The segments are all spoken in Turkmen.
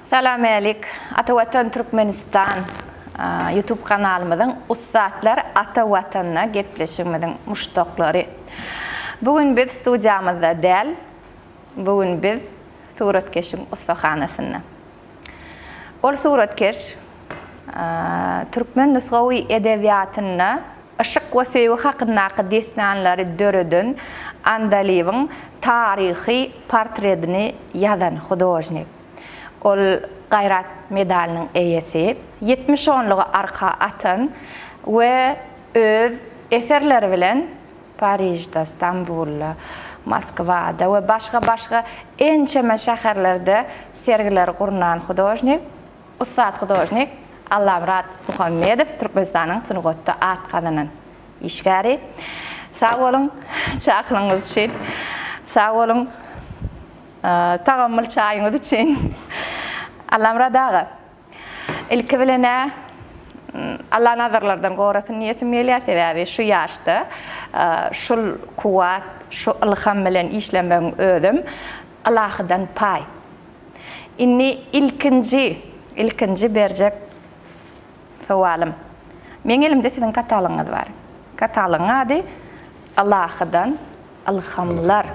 Salam älik Ata Watan Türkmenistan YouTube kanalymyzyň ussatlar Ata Watanda gepleşigimiziň muşdaklary. Bu gün biz studiýamyzda däl, bu gün biz suratkeşiň ussahanasynda. Ol suratkeş türkmen nusgawy edebiýatynda yşyk we söýgi hakyndaky dessanlary döreden Andalybyň taryhy portredini ýazan hudožnik. Ol Gaýrat medalynyň eýesi, ýetmiş onlugy arka atan we öz eserleri bilen Parižde, Stambulda, Moskwada we başga-başga ençeme şäherlerde Sergileri gurnan hudožnik, ussat hudožnik Allamyrat Muhammedow Türkmenistanyň sungatda at gazanan işgäri. Sag boluň çakylygyňyz üçin. Sag boluň tagamyl çaýyňyz üçin. Allamyrat aga. Ilki bilen-ä Allah nazarlardan gorasyn diýesim gelýär, sebäbi şu ýaşda şul kuwwat, şu ylham bilen işlemegiň özem Ylahydan paý. Indi ilkinji, ilkinji berjek sowalym. Meň elimde siziň katalogyňyz bar. Katalogyň ady Ylahydan ylhamlar.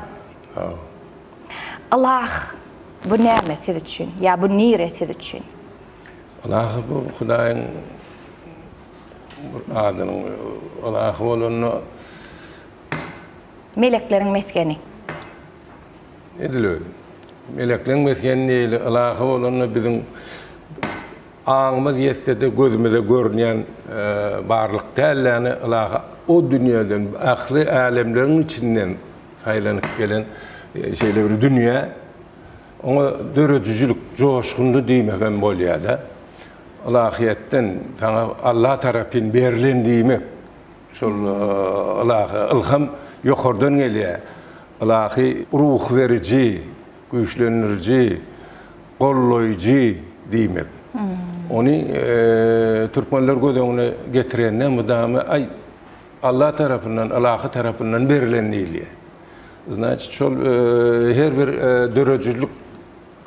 Ylah, bu näme siz üçin? Ýa bu nire siz üçin? Ylah, bu Hudaýyň bir adynyň ylah bolanda. Melekleriň mesgeni. Edil öýdüm. Melekleriň mesgeni neýli ylah bolanda biziň aňymyz ýetse-de gözümize görünýän barlyk däl, ýagny ylah o dünýeden, ähli älemleriň içinden, Saýlanyp gelen şeýle bir dünýä, oňa döredijilik joşguny diýmek hem bolýar-da. Ylahyýetden saňa Alla tarapyn berlen diýmek. Şol ylahy ylham ýokardan gelýär. Ylahy ruh beriji, güýçlendiriji, goldaýjy diýmek. Ony türkmenler göz öňüne getirende mydama aý, Allah tarapyndan, ylahy tarapyndan berilen diýilýär. Znaçit, şol her bir döredijilik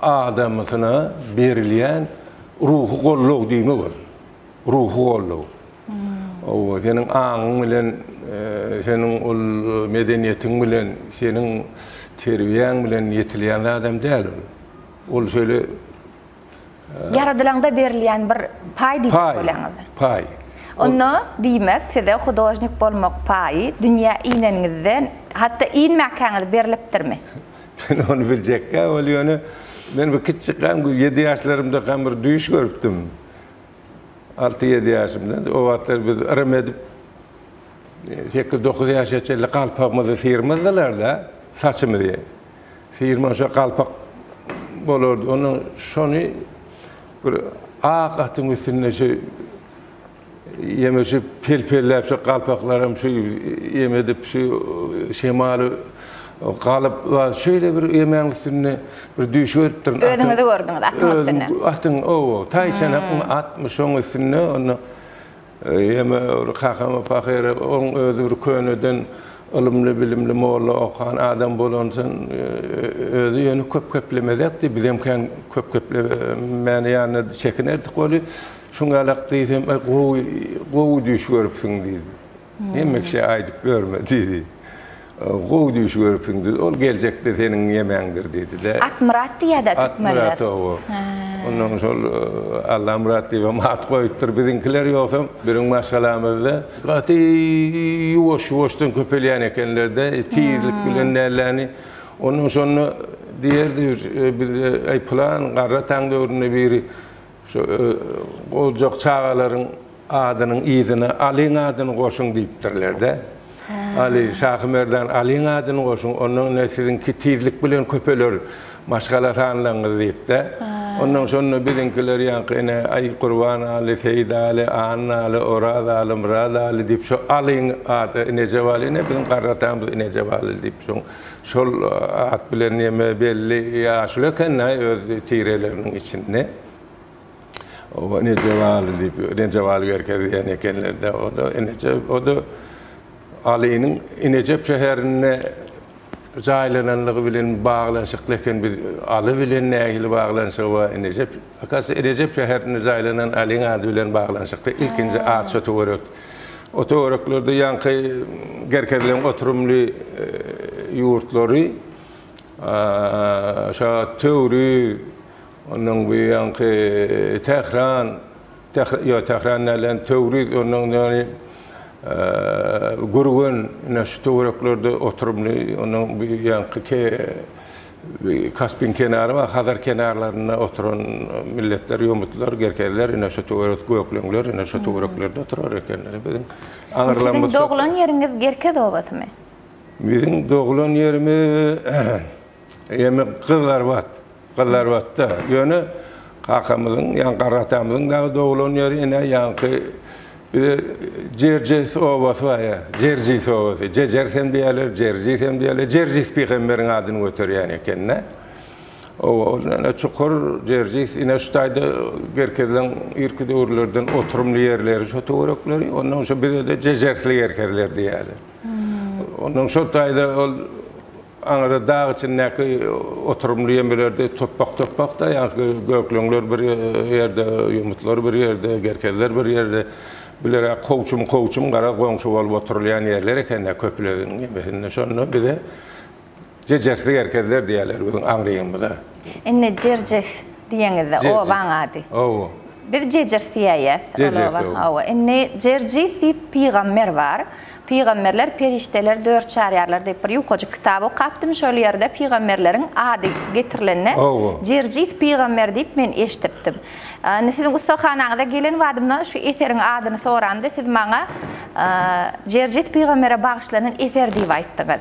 adamysyna berilýän ruhy goldaw diýmek ol. Ruhy goldaw. Owa, seniň aňyň bilen, seniň ol medeniýetiň bilen, seniň terbiýäň bilen ýetilýän zadam däl ol. Ol şeýle. Ýaradylaňda berilýän bir paý diýjek bolýaňyzmy? Paý. Onda, diýmek, size hudožnik bolmak paýy dünýä ineniňizden, hatda inmäkäňiz berlipdirmi? Men ony biljekkä weli, ýöne men bir kiçijikkäm, ýedi ýaşlarymdakam bir düýş görüpdim. Alty-ýedi ýaşymda. O wagtlar biz yrym edip, sekiz-dokuz ýaşa çenli galpagymyzy syrmazdylar-da, saçymyzy. Firma şo galpak bolardy. Onda şony bir ak atyň üstünde şu ýeme şu pelpelläp şu galpaklaram şu ýeme edip şu şemaly galyp we şeýle bir ýemäň üstünde bir düýş görüpdirin. Atyň- Özüňizi gördüňiz atyň üstünde. Özüm atyň ow-ow, taýçanakyň atmy şoň üstünde onda Ýeme bir kakama pahyr oň özi bir köneden ylymly bilimli molla okan adam bolan sen özi ýöne köp geplemezekdi bizem kän köp geplemäni ýanyna çekinerdik weli şuň ýalak diýsem gowy gowy düýş görüpsiň diýdi hemme kişä aýdyp ýörme diýdi. Gowy düýş görüpsiň düz, ol geljekde seniň ýemeňdir diýdi-de. Akmyrat diýýär-dä türkmenler. Akmyrat oba. Ondan şol Allamyrat diýibem at goýupdyr biziňkiler, ýogsam biriň maşgalamyzda gaty ýuwaş-ýuwaşdan köpelýän ekenler-dä, tizlik bilen nälerini. Ondan şonda diýerdi, biz, aý, pylan garrataň döwründe biri Şu goljak çagalaryň adynyň yzyna Alyň adyny goşuň diýipdirler-de. Aly, Şahymerdan Alyň adyny goşuň, ondan ine siziňki tizlik bilen köpeler, maşgala sanlaryňyz diýip-de. Ondan şonda biziňkiler ýaňky ine Aý, Gurban Aly, Seýit Aly, Anna Aly, Oraz Aly, Myrat Aly diýip, şo Alyň ady Inejebaly, ine biziň garratamyz Inejebaly diýip, şoň Şol at bilen ýeme belli ýaşuly ekeni-aý öz tireleriniň içinde. Oba Nejebaly diýip, Nejebaly Berke diýen ekenler-de. O-da Eneje, o-da Alynyň Inejep şäherinde jaýlananlygy bilen baglanyşykly eken. Biz Aly bilen nähili baglanyşygy bar Inejep? Hakasy Inejep şäherinde jaýlanan Alyň ady bilen baglanyşykly ilkinji at şo töwerek. O töwereklerde ýaňky gerkezilen oturymly ýurtlary, şa Töwriz, ondan bu ýanky Tähran, ýok, Tähran dälem, Töwriz, ondan ýaly Gürgen, ine şu töwereklerde oturymly, ondan bu ýanky Kaspiň kenary we Hazar kenarlarynda oturan milletler, ýomutlar, gerkezler, ine şu töwerek gökleňler, ine şu töwereklerde oturar ekenler. Biziň aňrylan bu. Siziň doglan ýeriňiz Gerkez obasymy? Biziň doglan ýerimiz ýeme Gyzlarbat. Gyzlarbatda. Ýöne kakamyzyň, ýa garatamyzyň dagy doglan ýeri ine ýaňky Bize Jerjis obasy bar ýa, Jerjis obasy. Jejer hem diýerler, Jerjis hem diýerler. Jerjis pygamberiň adyny göterýän eken-de. Oba ol ýene çukur, Jerjis. Ine şu taýda gerkezleň irki döwürlerden oturymly ýerleri şo töwerekleri. Ondan şo bize-de Jejersli gerkezler diýerler. Ondan şo taýda ol Aňyrda dag içindäki oturymly ýemelerde topbak-topbak-da, ýaňky gökleňler bir ýerde, ýumutlar bir ýerde, gerkezler bir ýerde. Bular-a kowçum-kowçum, garaz, goňşy bolup oturylýan ýerler eken-dä köpülegiň ýemesinde. Şonda bize Jejersi gerkezler diýerler biziň aňrymyza. Indi Jerjes diýeňiz-de, obaň ady. Hawa. Biz Jejers diýäýýäs ol oba. Hawa. Indi Jerjis diýip pygamber bar. Pygamberler perişdeler dört çarýarlar diýip bir ýukajyk kitap okapdym şol ýerde pygamberleriň ady getirilende Jerjis pygamber diýip men eşdipdim. Indi siziň ussahanaňyza gelen badymda şu eseriň adyny soranda siz maňa Jerjis pygambere bagyşlanan eser diýip aýtdyňyz.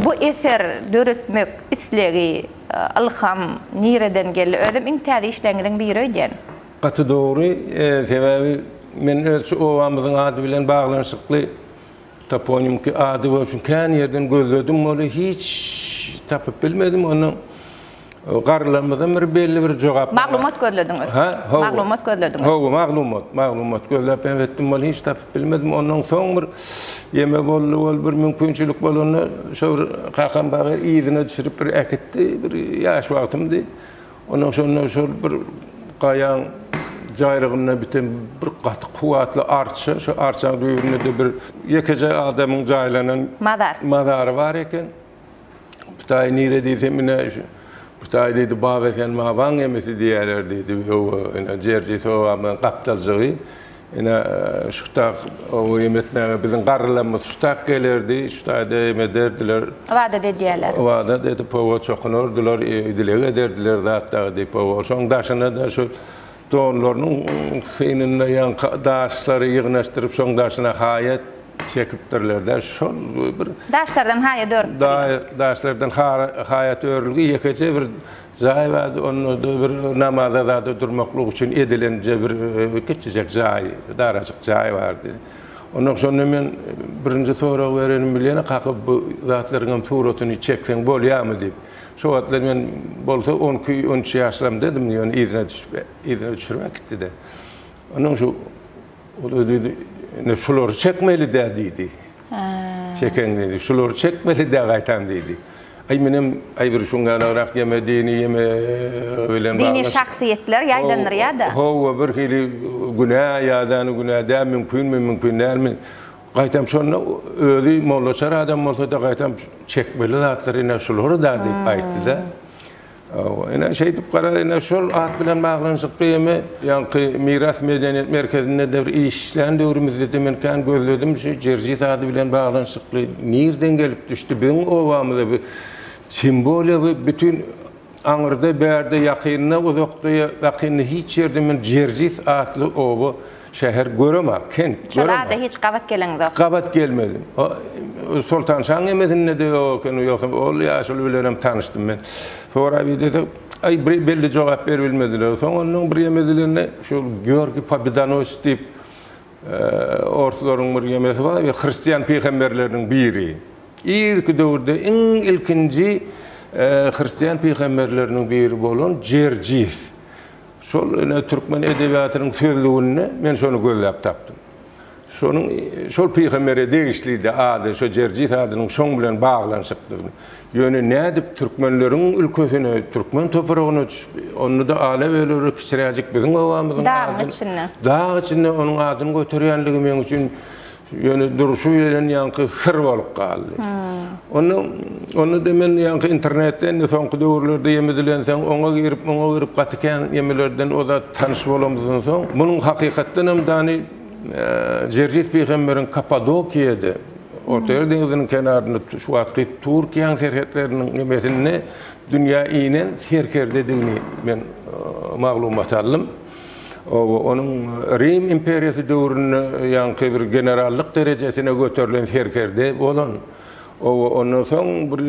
Bu eser döretmek islegi, ylham nireden geldi? Özüm iň täze işleriňiziň biri öýdýän. Gaty dogry, sebäbi men öz şu obamyzyň ady bilen baglanyşykly toponimiki ady bolsun kän ýerden gözledim boly hiç tapyp bilmedim ondan garrylarymyzdan biri belli bir jogap Maglumat gözlediňiz. Hä? Hawa. Maglumat gözlediňiz. Hawa, maglumat, maglumat gözläp hem etdim boly hiç tapyp bilmedim ondan soň bir ýeme boldy bol bir mümkinçilik bolanda şo bir kakam bagy yzyna düşürip bir äkitdi bir ýaş wagtymdy. Ondan soňra şol bir gaýaň jaýrygynda biten bir gaty kuwwatly arça, şo arçanyň düýbünde-de bir ýekeje adamyň jaýlanan Mazar. mazary bar eken. Bu taýy nire diýsem, ine, şu bu taýy diýdi, Babaesen mabaň gemisi diýerler diýdi. Ýowa, ine, Jerjeý Sowabam gapdaljygy. Ine, şutak oňa em etmäge biziň garrylarymyz şutak gelerdi, şu taýda em ederdiler. Ybadat edýärler. Ybadat edip, oba çokunardylar, dileg ederdiler zatdagy diýip, oba. Şoň daşyna-da şu donlarynyň synynda ýaňky daşlary ýygnaşdyryp, şoň daşyna haýa çekipdirler-de, şol bir. Daşlardan haýat örüpdirler. Daşlardan haýat örülgi ýekeje bir Jaý bar, onda-da bir namaza zada durmaklyk üçin edilende bir kiçijek jaý, darajyk jaý bardy. Ondan şonda men birinji sorag berenim bilen, Kaky, bu zatlaryň hem suratyny çekseň bolýarmy diýip. Şo wagtlar men bolsa on iki, on üç ýaşlarymdadym, ýöne yzyna düşüp, yzyna düşürip äkitdi-de. Ondan şu, ol-da diýdi, Ine, şulary çekmeli-dä diýdi. Çekeň diýdi. Şulary çekmeli-dä gaýtam diýdi. Aý, menem aý bir şuňňanagrak ýeme, dini ýeme bilen bagly. Dini şahsyýetler ýaýdandyrýa-da. Hawa, birhili günä ýa-da günä däl, mümkinmi, mümkin dälmi. Gaýtam şonda özi mollaçar adam bolsa-da gaýtam çekmeli zatlar ine şular-da diýip aýtdy-da. Hawa, ine, şeýdip gara, ine, şol at bilen baglanyşykly hem ýaňky Miras medeniýet merkezinde-de bir iş işlän döwrümizde-de men kän gözledim, şu Jerjis ady bilen baglanyşykly nirden gelip düşdi, biziň obamyza bu simwoliýa bu bütin aňyrda, bärde, ýakynda, uzakda, ýakynda hiç ýerde men Jerjis atly oba Şäher görem-ä, kent Şol görem-ä. ada hiç gabat geleňzok. Gabat gelmedim. O, Soltan şaň emesinde-de ýok ekeni, ýogsam ol ýaşuly bilenem tanyşdym men. Soraýp idesem, aý, bir belli jogap beribilmediler. Soň onnoň bir ýeme dilinde şol Georgiý Pobedanoýs diýip, orslaryň bir ýemesi bar, hristian pygamberleriniň biri. Irki döwürde iň ilkinji hristian pygamberleriniň biri bolan Jerjis. Şol ine türkmen edebiýatynyň sözlüginde men şony gözläp tapdym. Şonuň şol pygambere degişlidi ady, şo Jerjis adynyň şoň bilen baglanyşykdygyny. Ýöne nädip türkmenleriň ülkesine, türkmen topragyna düşüp, onda-da ala-böleri kiçiräjik biziň obamyzyň adyny, dagyň içinde onuň adyny göterýänligi meň üçin Ýöne durşy bilen ýaňky syr bolup galdy. Onda, onda-da men ýaňky internetde indi soňky döwürlerde ýem edilensoň, oňa girip, muňa girip gaty kän ýemelerden o zat tanyş bolamyzdan soň, munuň hakykatdan hem dany Jerjis pygamberiň Kappadokiýada, Ortaýer deňziniň kenarynda şu wagtky Türkiýäň serhetleriniň ýemesinde dünýä inen serkerdedigini men maglumat aldym. Oba, onuň Rim imperiýasy döwründe ýaňky bir generallyk derejesine göterilen serkerde bolan, oba, ondan soň bir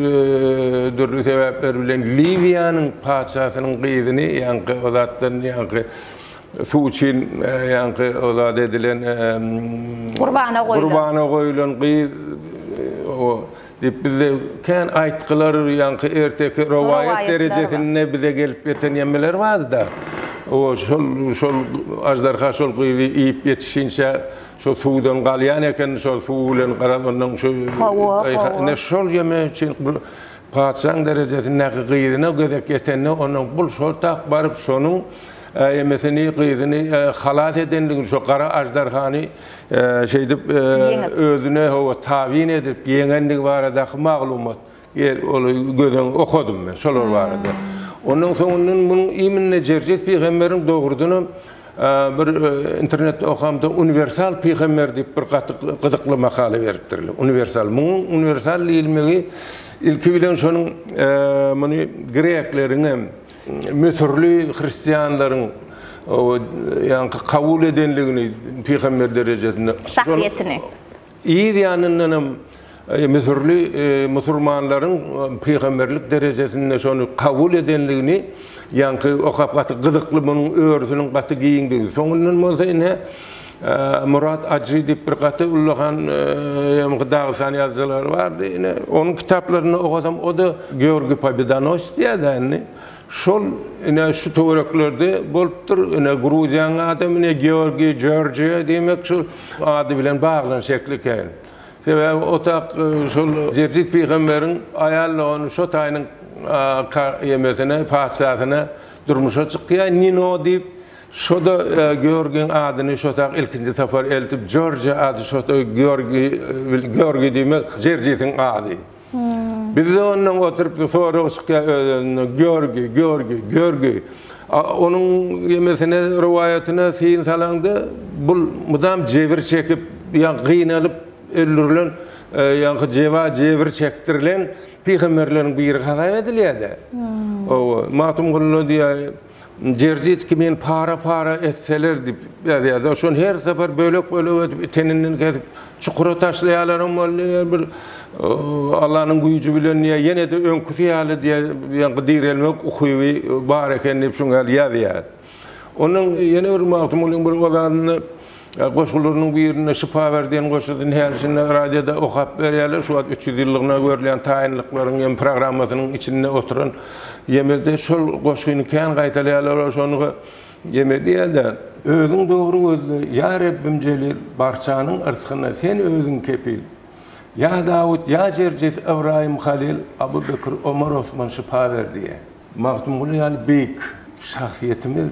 dürli sebäpler bilen Liwiýanyň patyşasynyň gyzyny, ýaňky o zatdan ýaňky suw üçin ýaňky o zat edilen, gurbana goýlan gyz, oba, Diýip bizde kän aýtgylar, ýaňky erteki rowaýat derejesinde bize gelip ýeten ýemeler bardy-da. O şol, şol aždarha şol gyzy iýip ýetişinçä şo suwdan galýan eken, şo suw bilen garaz ondan şu ine şol ýeme üçin patyşaň derejesindäki gyzyna gezek ýetende onuň bul şo tap baryp şonuň ýemesini, gyzyny halas edendigini, şo gara aždarhany, şeýdip özüne hawa tabyn edip ýeňendigi baradaky maglumat ol gözeň okadym men şolar barada. Ondan soňundan munuň iminne Jerjes pygamberiň dogrudanam bir internetde okamda uniwersal pygamber diýip bir gaty gyzykly makala beripdirler. Uniwersal munuň uniwersal diýilmegi ilki bilen şonuň muny grekleriňem Müsürli hristianlaryň ýaňky kabul edenligini pygamber derejesinde. Şahsyýetini. Yz ýanyndan hem müsürli musurmanlaryň pygamberlik derejesinde şony kabul edenligini ýaňky okap gaty gyzykly munuň örüsiniň gaty giňdigi. Soňundan bolsa ine Murat Ajy diýip bir gaty ullakan ýa-da dagystan ýazyjylary bardy. Ine, onuň kitaplarynda okasam, o-da Georgiý Pobedonossy diýýärdi-ä indi. Şol, ine, şu töwereklerde bolupdyr. Ine, Gruziýanyň adam, ine, Georgiý, Georgiýa, diýmek, şol ady bilen baglanyş şekli eken. Sebäbi otak şol Jerjit pygamberiň aýal dogany Şotaýynyň ka-ýemesine, patyşasyna durmuşa çykýar, Nino diýip. Şoda Georgiň adyny şotak ilkinji sapar eltip, Jorji ady şoda Georgi, Georgi diýmek, Jerjisiň ady. Bizde ondan oturyp sorag çykýar öz-özünden, Georgi, Georgi, Georgi. Onuň ýemesine, rowaýatyna syn salaňda, bul mydam jebir çekip, ýa gynalyp öldürilen, ýa-ha jeba jebir çekdirilen pygamberleriň biri hasap edilýär-dä. Hawa, Magtymgulyda diýýär, Djerzjitski meni para-para etseler diýip ýazýar-da, şony her sapar bölek-bölek edip, iteninden kesip, çukura taşlaýarlaram boldy, ýa bir Allanyň güýji bilen, ýa ýene-de öňküsi ýaly diýen direlmek ukyby bar eken diýip şuňa ýazýar. Ondan ýene bir Magtymgulyň bir ozalynda Goşgularynyň birinde şypa ber diýen goşgusyny häli-şindi radioda okap berýärler. Şu wagt üç ýüz ýyllygyna görülýän taýynlyklaryň hem programmasynyň içinde oturan Ýemedi şol goşgyny kän gaýtalaýarlar. Olar şony Ýemedi diýýärler. Özüň dogry gözle, ýa Rebbim jelil, Barçanyň yrskyna sen özüň kepil. Ýa Dawut, ýa Jerjes, Ybraýym, Halyl, Abu Bekir, Omar, Osman şypa ber diýýär. Magtymguly ýaly beýik şahsyýetimiz.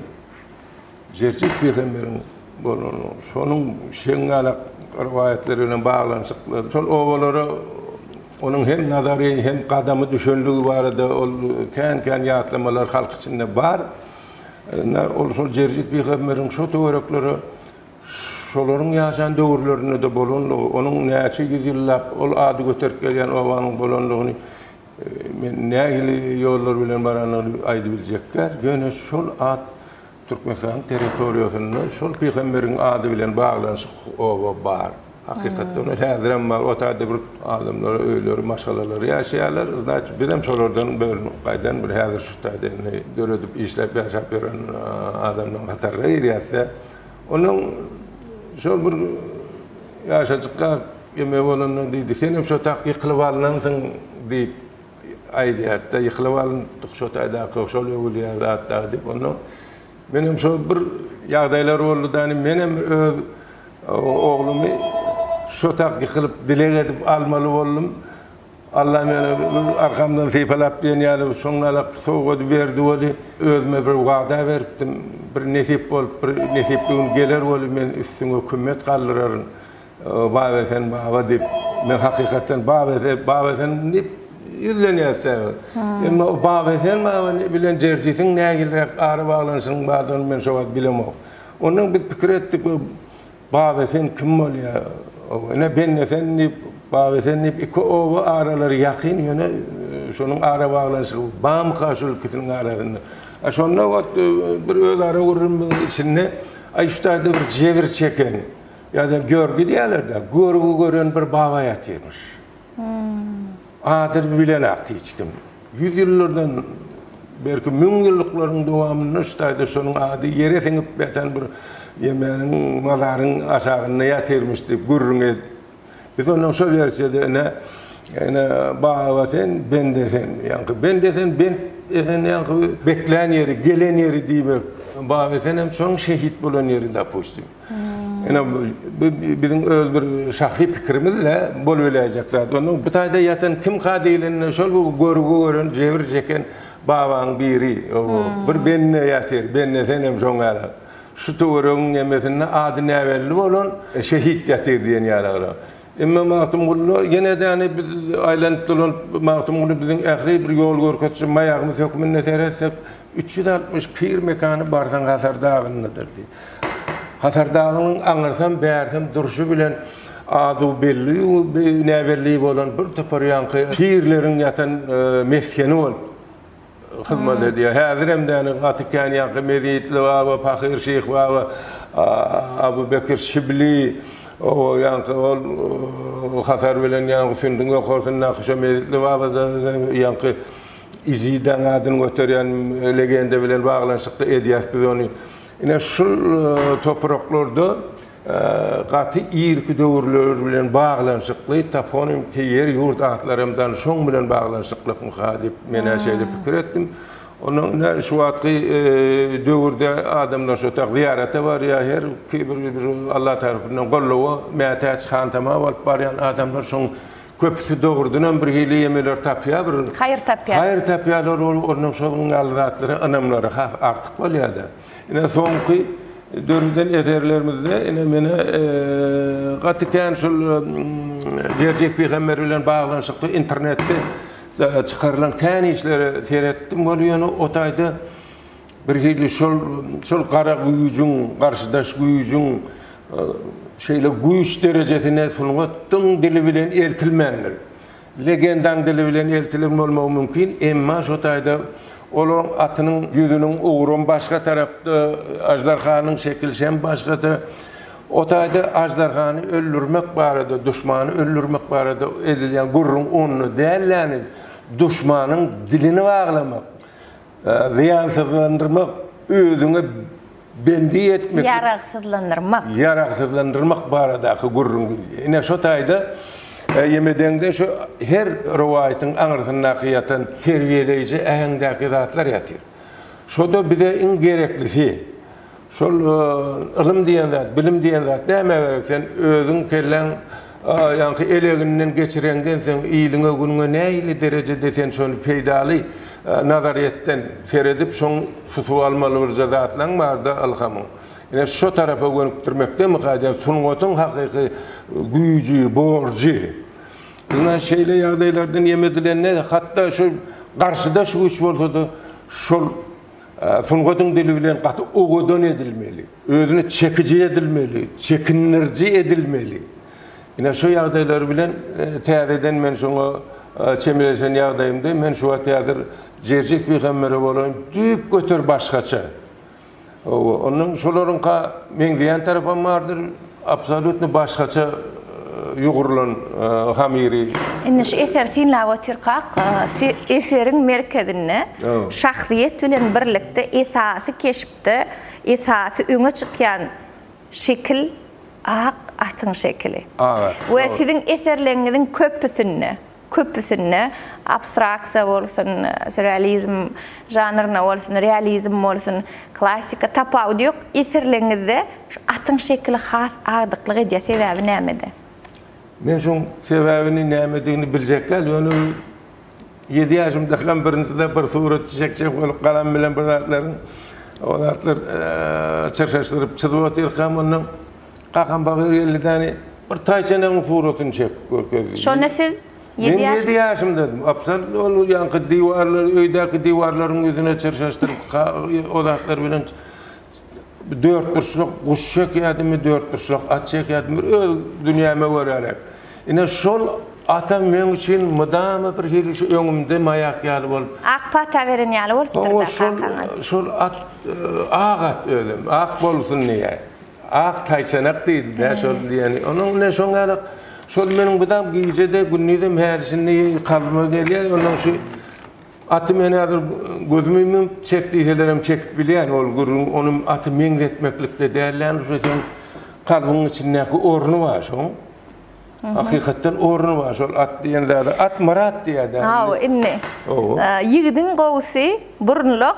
Jerjes pygamberiň bolany, şonuň şeňňälak rowaýatlary bilen baglanyşykly. Şol obalara onuň hem nazary, hem gadamy düşenligi barada ol kän-kän ýatlamalar halk içinde bar. Ynha, ol şol Jerjes pygamberiň şo töwereklere şolaryň ýaşan döwürlerinde-de bolanlygy, onuň näçe ýüz ýyllap ol ady göterip gelýän obanyň bolanlygyny men nähili ýollar bilen barandygyny aýdybiljekgär, ýöne şol at Türkmenistanyň territoriýasynda şol pygamberiň ady bilen baglanyşyk oba bar. Hakykatdan hem häzirem bar. O taýda bir adamlar öýleri, maşgalalary ýaşaýarlar. Znaçy, bizem şolardan bölünip gaýdan bir häzir şu taýda indi döredip işläp ýaşap ýören adamlaryň hataryna girýäs-de. Onuň şol bir ýaşajykka ýeme bolanda diýdi, Senem şo tak ýykylyp alnansyň diýip. Aýdýardy-da, Ýykylyp alyndyk şo taýdaky, şol öwülýän zat dagy diýip, onnoň menem şo bir ýagdaýlar boldy-da, menem öz oglumy şo tak ýykylyp, dileg edip almaly boldum. Alla meni arkamdan sypalap diýen ýaly şoňňalak sowgady berdi weli, özüme bir wada beripdim, bir nesip bolup, bir nesipli gün geler weli, men üstüňe kümmet galdyraryn. Babesen baba diýip, men hakykatdan Babesen, Babesen diýip ýüzlenýäs däbi. Emma o Babesen baba bilen Jerjisiň nägileräk ara baglanyşynyň bardygyny men şo wagt bilemok. Ondan biz pikir etdik, bu Babesen kim bolýar? Ine, Bennesen diýip, Babesen diýip iki oba aralary ýakyn, ýöne şonuň ara baglanyşygy barmyka şol ikisiniň arasynda? A şonda ot bir özara gürrümiň içinde, Aý, şu taýda bir jebir çeken, Ýa-da görgi diýerler-dä, görgi gören bir baba ýatyrmyş. Adyny bilenak hiç kim. Ýüz ýyllardan, belki müňýyllyklaryň dowamynda şu taýda şonuň ady ýere siňip ýatan bir ýemäniň, mazaryň aşagynda ýatyrmyş diýip gürrüň edip. Biz ondan şo wersiýada ine, ine, baba sen, bende sen. Ýaňky bende sen, bent esen ýaňky beklän ýeri, gelen ýeri diýmek. Baba sen hem şonuň şehit bolan ýeri, dopustim. Ine, bu biziň öz bir şahsy pikirimiz-de, bolubiläýjek zat. Onda bu taýda ýatan kimka diýlende, şol bu görgi gören, jebir çeken babaň biri. O, bir bende ýatyr, bende senem şoň ýaly. Şu töweregiň ýemesinde ady näbelli bolan şehit ýatyr diýen ýaly. Emma Magtymguly ýene däne biz aýlanyp dolanyp Magtymguly biziň ähli bir ýol görkezçi maýagymyz hökmünde seretsek üç ýüz altmyş pir mekany barsaň Hasar dagyndadyr diý. Hasar dagynyň aňyrsam bärsem durşy bilen ady belli näbelli bolan bir topar ýaňky pirleriň ýatan mesgeni bolup hyzmat edýär. Häzir hem däne gaty kän ýaňky Mezitli baba, Pahyr şyh baba, Abu Bekir Şibli, o ýaňky ol hasar bilen ýaňky sündüň ýokarsyndaky şo Mezitli baba da ýaňky Izidaň adyny göterýän legenda bilen baglanyşykly edýäs biz ony. Ine şul topraklarda Gaty irki döwürler bilen baglanyşykly toponim te ýer, ýurt atlary hem dal şoň bilen baglanyşyklykmyka diýip, men-ä şeýle pikir etdim. Ondan ine, şu wagtky döwürde adamlar şo tak zyýarata barýar, her ki bir bir Alla tarapyndan goldawa mätäç, hantama bolup barýan adamlar şoň köpüsi dogrudan hem bir hili ýemeler tapýar, bir Haýyr tapýar. Haýyr tapýarlar, ol ondan şonuň ýaly zatlara ynamlary has artyk bolýar-da. Ine soňky döreden eserlerimizde ine meni gaty kän şul Jerjek pygamber bilen baglanyşykly internetde çykarylan kän işleri seretdim ol ýöne o taýda bir hili şol şol gara güýjüň garşydaş güýjüň şeýle güýç derejesine sungatyň dili bilen eltilmändir. Legendaň dili bilen eltilen bolmagy mümkin, emma şo taýda olaryň atynyň ýüzüniň ugrum başga tarapda, aždarhanyň şekili şem başgada. O taýda aždarhany öldürmek barada, duşmany öldürmek barada edilýän gürrüň onda dälläni, duşmanyň dilini baglamak, Zyýansyzlandyrmak, özüňe bendi etmek. Ýaragsyzlandyrmak. Ýaragsyzlandyrmak baradaky gürrüň gelýär. Ine, şo taýda Ýemedeňde şu her rowaýatyň aňyrsyndaky ýatan terbiýeleýji äheňdäki zatlar ýatyr. Şo-da bize iň gereklisi. Şol ylym diýen zat, bilim diýen zat nämä gerek? Sen özüň kelläň ýaňky eleginden geçireňden soň iliňe, günüňe nähili derejede sen şony peýdaly nazaryýetden seredip, şoň tutup almaly birje zatlaň barda ylhamyň. Ine şo tarapa gönükdirmekdemika aýdýan sungatyň hakyky güýji, borjy. Ynha şeýle ýagdaýlardan ýem edilende hatda şu garşydaş güýç bolsada şol Sungatyň dili bilen gaty owadan edilmeli, özüne çekiji edilmeli, çekindiriji edilmeli. Ine, şu ýagdaýlar bilen täzeden men şoňa çemeleşen ýagdaýymda, men şu wagt häzir Jerjis pygambere bolaýyn düýpgöter başgaça. Oba, ondan şolaryňka meňzeýän tarapam bardyr. Absolutno başgaça ýugrulan hamyry. Indi şu eseri synlap otyrkak, eseriň merkezinde şahsyýet bilen birlikde esasy keşpde esasy öňe çykýan şekil ak atyň şekili. Ak at. We siziň eserleriňiziň köpüsinde. Köpüsinde abstraksiýa bolsun, sýurrealizm žanryna bolsun, realizm bolsun, klassika, tapawudy ýok. Eserleriňizde şu atyň şekili has agdyklyk edýär. Sebäbi nämede? Men şoň sebäbini nämedigini biljek däl, ýöne ýedi ýaşymdakam birinjide bir suratçy çekjek bolup galam bilen bir zatlaryň o zatlar çyrşaşdyryp çyzyp otyrkam onda Kakam bagyr elli däne bir taýçanyň suratyny çekip görkezdi. Şonda siz ýedi ýaş. Men ýedi ýaşymdadym. Absal ol ýaňky diwarlary, öýdäki diwarlaryň ýüzüne çyrşaşdyryp, o zatlar bilen dörtburçluk guş çekýärdim, dörtburçluk at çekýärdim. Bir öz dünýäme görälek. Ine şol atam meň üçin mydama bir hili şu öňümde maýak ýaly bolup. Ak pata beren ýaly bolupdyr-da kakaňyz. Şol at, ak at özem, ak bolsun diýýär. Ak taýçanak diýdi dä şol diýeni. Onuň bilen şoň ýaly şol meniň bu dam gije-de gündizem häli-şindi kalbyma gelýär. Onuň şu aty men häzir gözümi ýumup çek diýselerem çekip bilýän ol gürrüň. Onuň aty meňzetmeklikde däl ýaly şo seň kalbyň içindäki orny bar şoň. Hakykatdan orny bar şol at diýen zada. At Myrat diýýär dä indi. Hawa indi. Ýigidiň gowusy burunluk,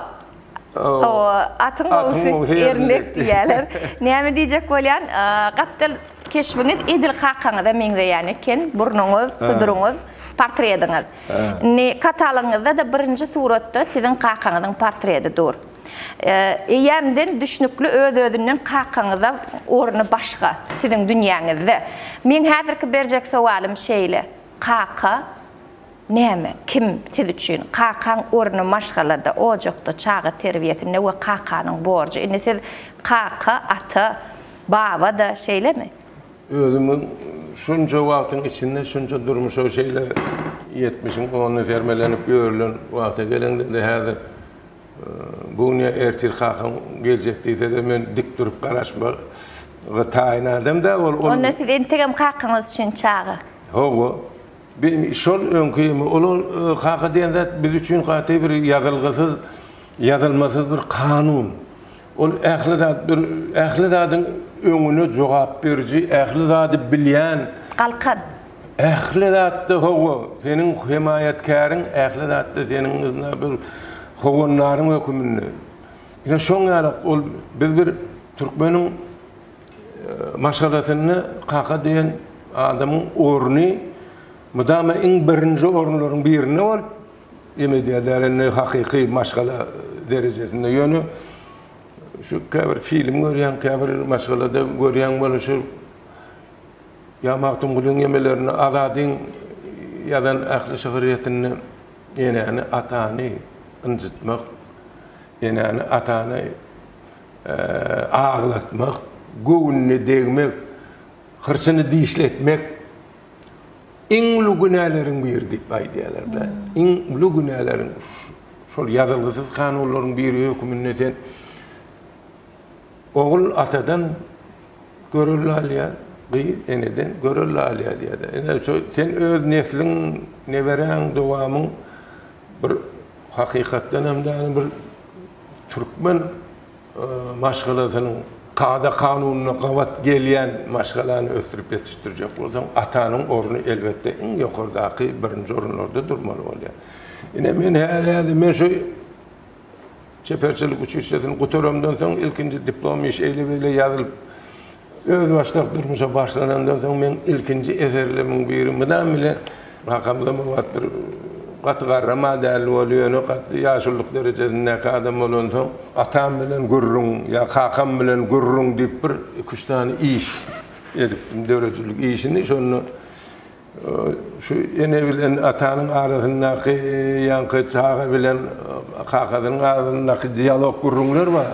Atyň gowusy ermek diýýärler. Näme diýjek bolýan, gapdal keşbiňiz edil kakaňyza meňzeýän eken, burnuňyz, suduryňyz, portrediňiz. Indi katalogyňyzda-da birinji suratda siziň kakaňyzyň portredi dur. Eýýämden düşnükli öz-özünden kakaňyza orny başga siziň dünýäňizde. Meň häzirki berjek sowalym şeýle, kaka. Näme, kim, siz üçin, kakaň orny maşgalada, ojakda, çaga terbiýesinde we kakanyň borjy. Indi siz kaka, ata, baba-da, şeýlemi? Özümiň şunça wagtyň içinde şunça durmuşa şeýle ýetmişiň ony sermelenip ýörülen wagta geleňde-de häzir bu gün ýa ertir kakam geljek diýse-de men dik durup garaşmaga taýyn adam-da, ol. Onda siz entegem kakaňyz üçin çaga. Hawa. Biz şol öňki uly kaka diýen zat biz üçin gaty bir ýazylgysyz, ýazylmasyz bir kanun. Ol ähli zat bir ähli zadyň öňüne jogap beriji, ähli zady bilýän. Galkan. Ähli zatda hawa, seniň hemaýatkäriň, ähli zatda seniň yzna bir howandaryň höküminde. Ine şoň ýaly ol biz bir türkmeniň Maşgalasynda kaka diýen adamyň orny mydama iň birinji orunlaryň birinde bolup, ýeme edýärler, indi hakyky maşgala derejesinde. Ýöne şu käbir film görýän, käbir maşgalada görýän bolsa şu ýa Magtymgulyň ýemelerinde, Azadyň ýazan ähli şygyrýetinde enäni, atany ynjytmak, enäni, atany. aglatmak, göwnüne degmek, hyrçyny dişletmek iň uly günäleriň biri diýip aýdýarlar-da. Iň uly günäleriň şol ýazylgysyz kanunlaryň biri höküminde sen ogul atadan görelde alýar, gyz eneden görelde alýar diýýärler. Ine, şo sen öz nesliň, neberäň, dowamyň bir hakykatdan hem däl, bir Türkmen maşgalasynyň kada-kanunyna gabat gelýän maşgalany ösdürip ýetişdirjek bolsaň, atanyň orny elbetde iň ýokardaky birinji orunlarda durmaly bolýar. Ine, men häli-häli men şu çeperçilik uçuşýasyny gutaramdan soň ilkinji diplom iş eýle-beýle ýazylyp, Özbaşdak durmuşa başlanandan soň meň ilkinji eserlerimiň biri mydam bile kakamda wagt bir gaty garrama däldi ol ýöne gaty ýaşulyk derejesindäki adam bolansoň atam bilen gürrüň ýa kakam bilen gürrüň diýip bir iki üç sany iş edipdim döredijilik işini şonda Şu ene bilen atanyň arasyndaky ýaňky çaga bilen kakasynyň arasyndaky dialog gürrüňler bar.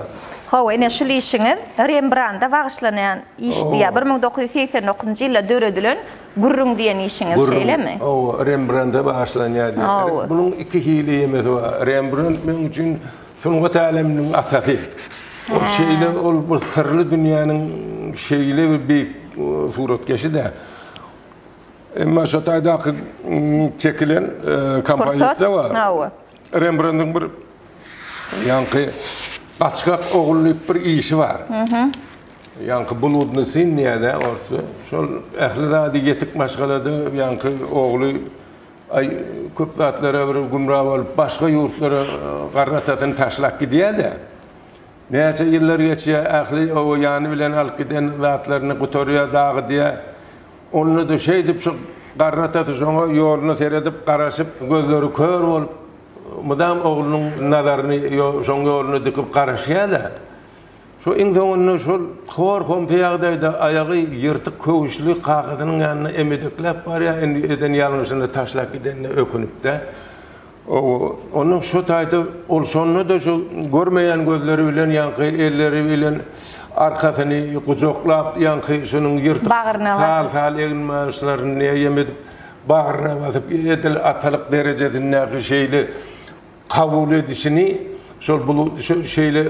Hawa, ine şul işiňiz Rembranda bagyşlanýan işdi, ýa bir müň dokuz ýüz segsen dokuzynjy ýylda döredilen Gürrüň diýen işiňiz, şeýlemi? Hawa, Rembranda bagyşlanýardy. Hawa. Munuň iki hili ýemesi bar. Rembrant meň üçin sungat äleminiň atasy. Ol şeýle, ol bir syrly dünýäniň şeýle bir beýik suratkeşi-de. Emma şo taýdaky çekilen kompozisiýa bar. Hawa. Rembrandyň bir ýaňky Gaçgak ogul diýip bir işi bar. Ýaňky Bludny syn diýýärdi orsça. Şol ähli zady ýetik maşgalada ýaňky ogly aý köp zatlara bir gümra bolup başga ýurtlara garry atasyny taşlap gidýär-de. Näçe ýyllar geçýä ähli oba ýany bilen alyp giden zatlaryny gutarýa dagydýa. Onda-da şeýdip şu garratasy şoňa ýoluna seredip garaşyp gözleri kör bolup mydam oglunyň nazaryny şoň ýoluna dikip garaşýa-da. Şu iň soňunda şol hor-homsy ýagdaýda aýagy ýyrtyk köwüşli kakasynyň ýanyna emedekläp barýa indi eden ýalňyşyny taşlap gidenine ökünip-de Onuň şu taýda ol şonda-da şu görmeýän gözleri bilen ýaňky elleri bilen arkasyny gujaklap, ýaňky şunuň ýyrtyk sal-sal egin-magyşlaryny näýem edip, bagryna basyp, edil atalyk derejesindäki şeýle kabul edişini, şol bul şeýle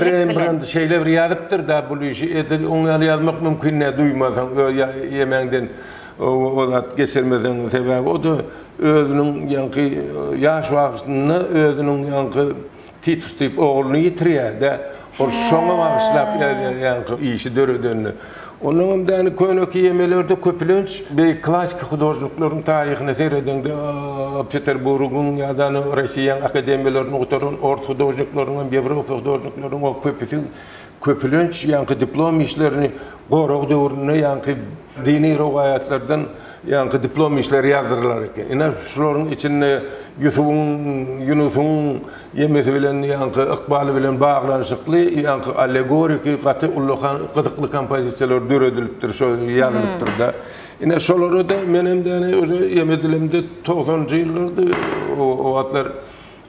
Rembrant şeýle bir ýazypdyr-da bul işi, edil oň ýaly ýazmak mümkin däl, duýmasaň, ýa ýemäňden o zat geçirmeseň, sebäbi o-da Özüniň ýaňky ýaş wagyşnda özüniň ýaňky Titus diýip ogluny ýitirýär-dä. Ol şoňa bagyşlap ýazýar ýaňky işi döredenini. Onnoň hem däni köne kiýemelerde köpülenç beýik klassyk hudožnikleriň taryhyna seredeňde Peterburgyň ýa-da Rossiýanyň akademiýalaryny gutaran ors hudožnikleriniň hem ýewropa hudožnikleriniň o köpüsi Köpülenç ýaňky diplom işlerini gorag döwründe ýaňky dini rowaýatlardan ýaňky diplom işleri ýazdyrylar eken. Ine, şularyň içinde Ýusubyň, Ýunusyň ýemesi bilen ýaňky ykbaly bilen baglanyşykly ýaňky allegoriki gaty ullakan gyzykly kompozisiýalar döredilipdir, şo ýazylypdyr-da. Ine, şolara-da menem däne özi ýeme dilimde togsanjy ýyllardy o wagtlar.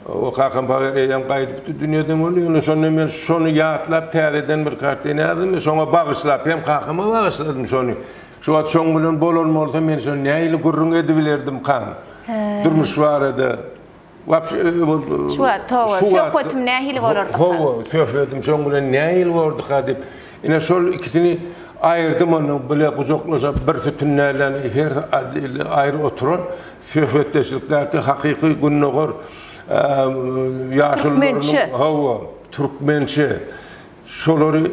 O kakam pahyr eýýäm gaýdypdy dünýeden boldy, ýöne şonda men şony ýatlap täzeden bir kartina ýazdym we şoňa bagyşlap, hem kakama bagyşladym şony. Şu wagt şoň bilen bolan bolsa men şony nähili gürrüň edibilerdimkaň durmuş barada. Wapşe Şu wagt hawa, söhbetim nähili bolardyka? Hawa, söhbetim şoň bilen nähili borduka diýip, ine şol ikisini aýyrdym ondan bile gujaklaşyp bir sütün nälen her aýry oturan. Söhbetdeşlikdäki hakyky gündogar ýaşulularynyň hawa, türkmençe. Şolary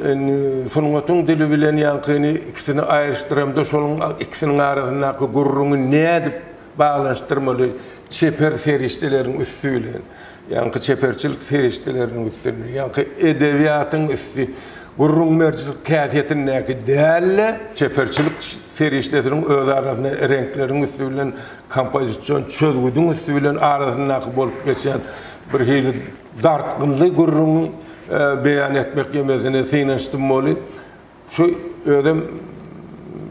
sungatyň dili bilen ýaňkyny ikisini aýryşdyramda şonuň ikisiniň arasyndaky gürrüňi nädip baglanyşdyrmaly çeper serişdeleriň üsti bilen. Ýaňky çeperçilik serişdeleriniň üstünde, ýaňky edebiýatyň üsti gürrüň berijilik häsiýetindäki däl-de, çeperçilik serişdesiniň öz arasynda reňkleriň üsti bilen kompozision çözgüdiň üsti bilen arasyndaky bolup geçýän birhili dartgynly gürrüňi beýan etmek ýemesine synanyşdym weli, Şu özem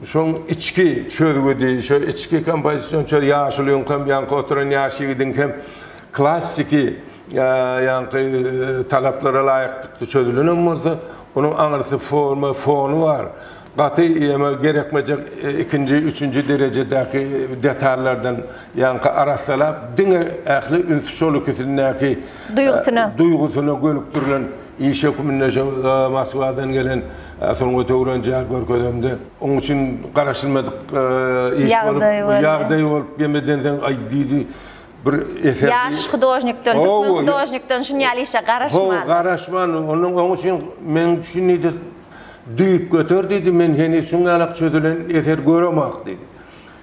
şoň içki çözgüdi, şo içki kompozision çöz ýaşulyň hem, ýaňky oturan ýaş ýigidiň hem klassiki ýaňky talaplara laýyklykda çözülenem bolsa, onuň aňyrsy forma, fony bar. Gaty ýa-da gerekmejek ikinji, üçünji derejedäki detallardan ýaňky arassalap, diňe ähli üns şol ikisindäki duýgusyna gönükdirilen Iş hökmünde şo Moskwadan gelen sungaty öwrenjä görkezemde, oň üçin garaşylmadyk iş bolup, ýagdaý bolup, gelmeden soň, aý diýdi, bir eser. Ýaş hudožnikden, türkmen hudožnikden şun ýaly işe garaşman. Ho, garaşman. Onuň oň üçin men şun diýdi, düýp göter diýdi, men heniz şuň ýalak çözülen eser göremok diýdi.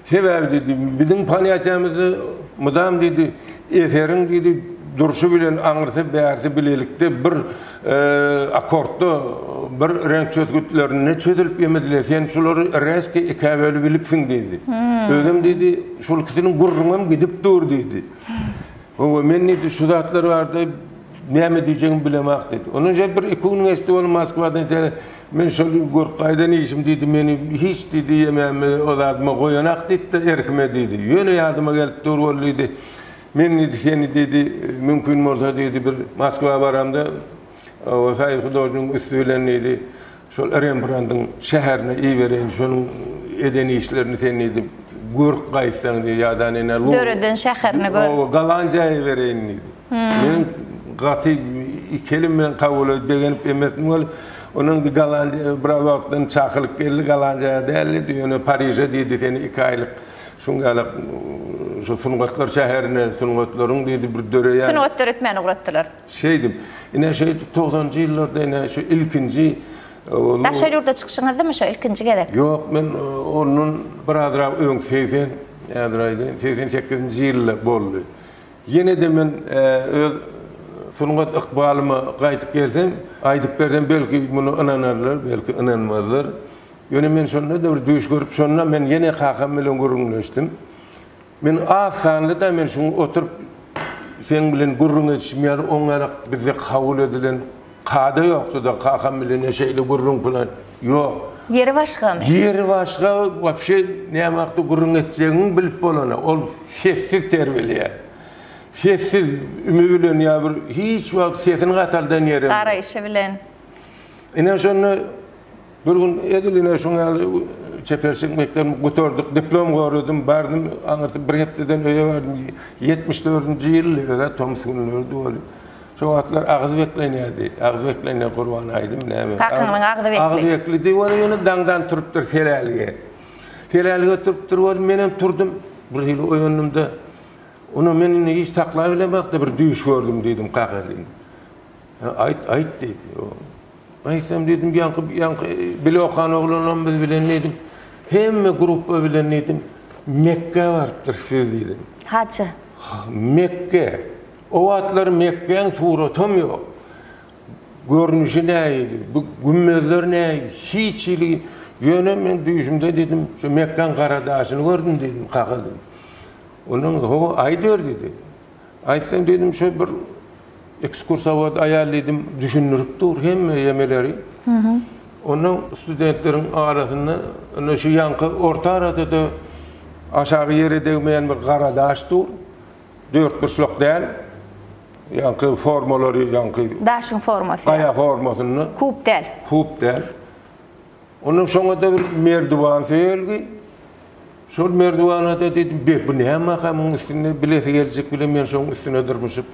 Sebäbi diýdi, biziň paniýatiýamyzda mydam diýdi, eseriň diýdi, durşy bilen aňyrsy, bärsi bilelikde bir akkordda bir reňk çözgütlerinde çözülip ýemedi-le, sen şulary rezki ikä bölüp ilipsiň diýdi. Özem diýdi, şol ikisiniň gürrüňem gidip dur diýdi. Hawa, men diýdi, şu zatlar barada näme diýjegimi bilemok diýdi. Ondan şeýle bir-iki gün geçdi, ol Moskwadan Men şol görüp gaýdan işim diýdi, meni hiç diýdi ýemäme o zadyma goýanak diýdi-de erkime diýdi. Ýöne ýadyma gelip dur ol diýdi. Men diýdi seni diýdi mümkin bolsa diýdi bir Moskwa baramda o soýuz hudožniginiň üsti bilen diýdi şol Rembrandyň şäherine ibereýin şonuň eden işlerini sen diýdi görüp gaýtsaň diýdi ýa-da ine Döreden şäherini görüp. Oba Gollandiýa ibereýin diýdi. Meniň gaty iki elim bilen kabul edip, begenip emmesim geldi. Ony indi Gollandiýa biraz wagtdan çakylyk geldi. Gollandiýa däldi, ýöne Pariže diýdi, seni iki aýlyk şuňňalak şu sungatlar şäherine, sungatlaryň diýdi bir döreýän. Sungat döretmäne ugratdylar. Şeýdip, ine şeýdip togsanjy ýyllarda ine şu ilkinji. Daşary ýurda çykyşyňyzdymy şo ilkinji gezek? Ýok, men ondan birazrak öň segsen, häzir aýdaýyn, segsen sekizinji ýylda boldy. Ýene-de men öz sungat ykbalyma gaýdyp gelsem, aýdyp bersem, belki, muny ynanarlar, belki, ynanmazlar. Ýöne men şonda-da bir düýş görüp, şonda men ýene kakam bilen gürrüňleşdim. Men az sanly-da, men şuň oturyp seniň bilen gürrüňeşişim ýaly oňarak bizde kabul edilen Kada ýoksa-da kakam bilene şeýle gürrüň plan ýok. Ýeri başgamy? Ýeri başga, wapşe näme hakda gürrüň etjegiňi bilip bolana. Ol sessiz terbileýär. Sessiz, üme bilen ýa bir hiç wagt sesini gataldan ýerem ýok. Garaýşy bilen. Ine şonda. Bir gün edil ine şuň ýaly çeper çek mekdebini gutardyk. Diplom goradim, bardym, aňyrty bir hepdeden öýe bardym. Ýetmiş dördünji ýyldy öz-ä, tomus günleridi weli. Şo wagtlar agyz beklenýärdi. Agyz beklenýär Gurban aýdym näme. Takynyň agyzy bekli. Agyz beklidi weli ýöne daňdan turupdyr selälige. Selälige turupdyr weli menem turdum. Bir hili oýandym-da, Ony men indi hiç saklaýbilemok-da bir düýş gördüm diýdim kakasin. Hä, aýt, aýt, diýdi. Aýtsam, diýdim, ýaňky, ýaňky bile okan oglanlarymyz bilen, diýdim, hemme gruppa bilen, diýdim, Mekgä barypdyrys biz, diýdim. Haja. Mekge. O wagtlar Mekgäň suratam ýok. Görnüşi nähili, bu gümmezler nähili, hiç hili, ýöne men düýşümde, diýdim, şu Mekgäň gara daşyny gördüm, diýdim, kakadan. Ondan soň, Hawa, aýdyber, diýdi. Aýtsaň diýdim şo bir ekskursawod aýal diýdim düşündirip dur hemme ýemeleri. Ondan studentleriň arasynda ine şu ýanky orta arada-da aşagy ýere degmeýän bir gara daş dur. Dörtburçluk däl. Ýanky formalary ýanky. Daşyň formasy. Gaýa formasynda. Kub däl. Kub däl. Ondan soňada bir merdiwan söýelgi. Şol merdiwanada dedim, be, bu nämaka muň üstünde bilesi geljek bile men şoň üstüne dyrmyşyp,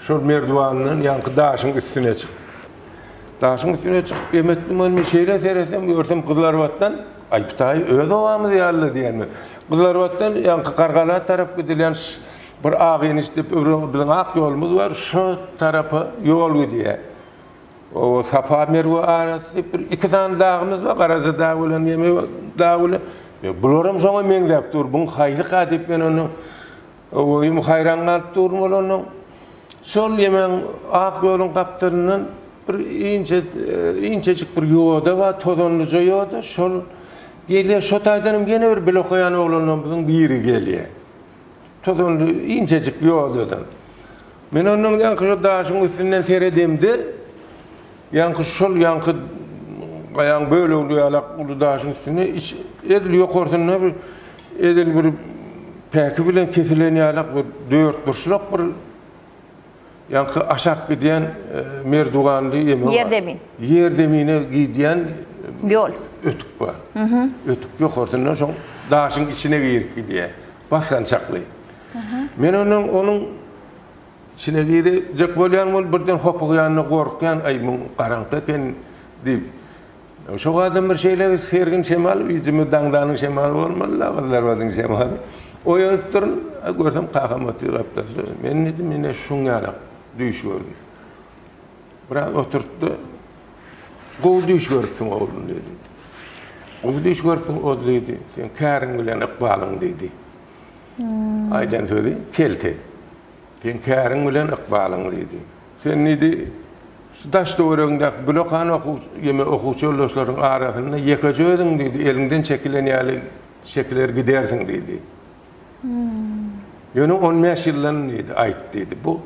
şol merdiwandan ýaňky daşyň üstüne çyk. Daşyň üstüne çykyp emetdim, ony şeýle seresem, görsem Gyzlarbatdan, aý, bu taý öz obamyz ýaly diýen. Gyzlarbatdan ýaňky Gargala tarap gidilýän bir Agynyş dep öwren biziň ak ýolumyz bar, şo tarapa ýol gidýär. Oba Safa Merwe arasy bir iki sany dagymyz bar, Garaja dagy bilen Meme dagy bilen. Ýa bularam şoňa meňzäp dur, buň haýsyka diýip men onda owaýym haýran galyp durdum ol ondan. Şol ýemeň ak ýoluň gapdalyndan bir inçe inçejik bir ýoda bar, tozanlyja ýoda, şol gelýär, şo taýdanam ýene bir bilokaýan oglanlarymyzyň biri gelýär. Tozanly inçejik ýol özem. Men ondan ýaňky şo daşyň üstünden seredemde, ýaňky şol ýaňky gaýaň böleginde ýalak uly daşyň üstünde iç edil ýokarsynda bir edil bir päki bilen kesilen ýalak bir dörtburçluk bir Ýaňky aşak gidýän merduganly ýeme bar. Ýerzemin. Ýerzemine gidýän ýol. Ötük bar. Ötük ýokarsyndan şoň daşyň içine girip gidýär. Basgançakly. Men ondan onuň içine girjek bolýan bolup birden hopugýan-da gorkýan, aý muň garaňky eken diýip. Şo gadam bir şeýle sergin şemal, üýjümiz daňdanyň şemaly bolmaly-la, Gyzlarbadyň şemaly. Oýanyp durun, görsem kakam otyr gapdalda. Men diýdim, ine şuň ýaly düýş gördüm. Biraz oturtdy. Gowy düýş görüpsiň, oglum diýdi. Gowy düýş görüpsiň, oz diýdi. Sen käriň bilen ykbalyň diýdi. Aýdan sözi kelte. Sen käriň bilen ykbalyň diýdi. Sen diýdi, Şu daş-töweregiňdäki gülekan okuw ýeme okuwçy ýoldaşlaryň arasynda ýekeje özüň diýdi, eliňden çekilen ýaly çekiler gidersiň diýdi. Ýöne on bäş ýyldan diýdi, aýt diýdi, bu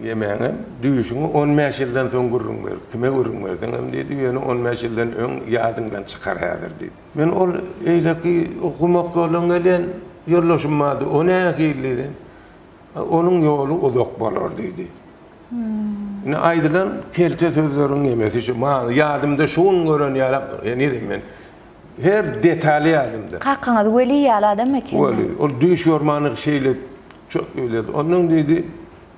ýemäňem, düýşüňi on bäş ýyldan soň gürrüň ber, kime gürrüň berseňem diýdi, ýöne on bäş ýyldan öň ýadyňdan çykar häzir diýdi. Men ol eýleki gumak ýoldan gelýän ýoldaşym bardy, o nähili? Onuň ýoly uzak bolar diýdi. Indi aýdylan kelte sözleriň ýemesi şu, maňa ýadymda şu gün gören ýaly, henizem men her detaly ýadymda. Kakaňyz weli ýaly adam ekeni. Weli, ol düýş görmänlik şeýle çöp öýlerdi. Ondan diýdi,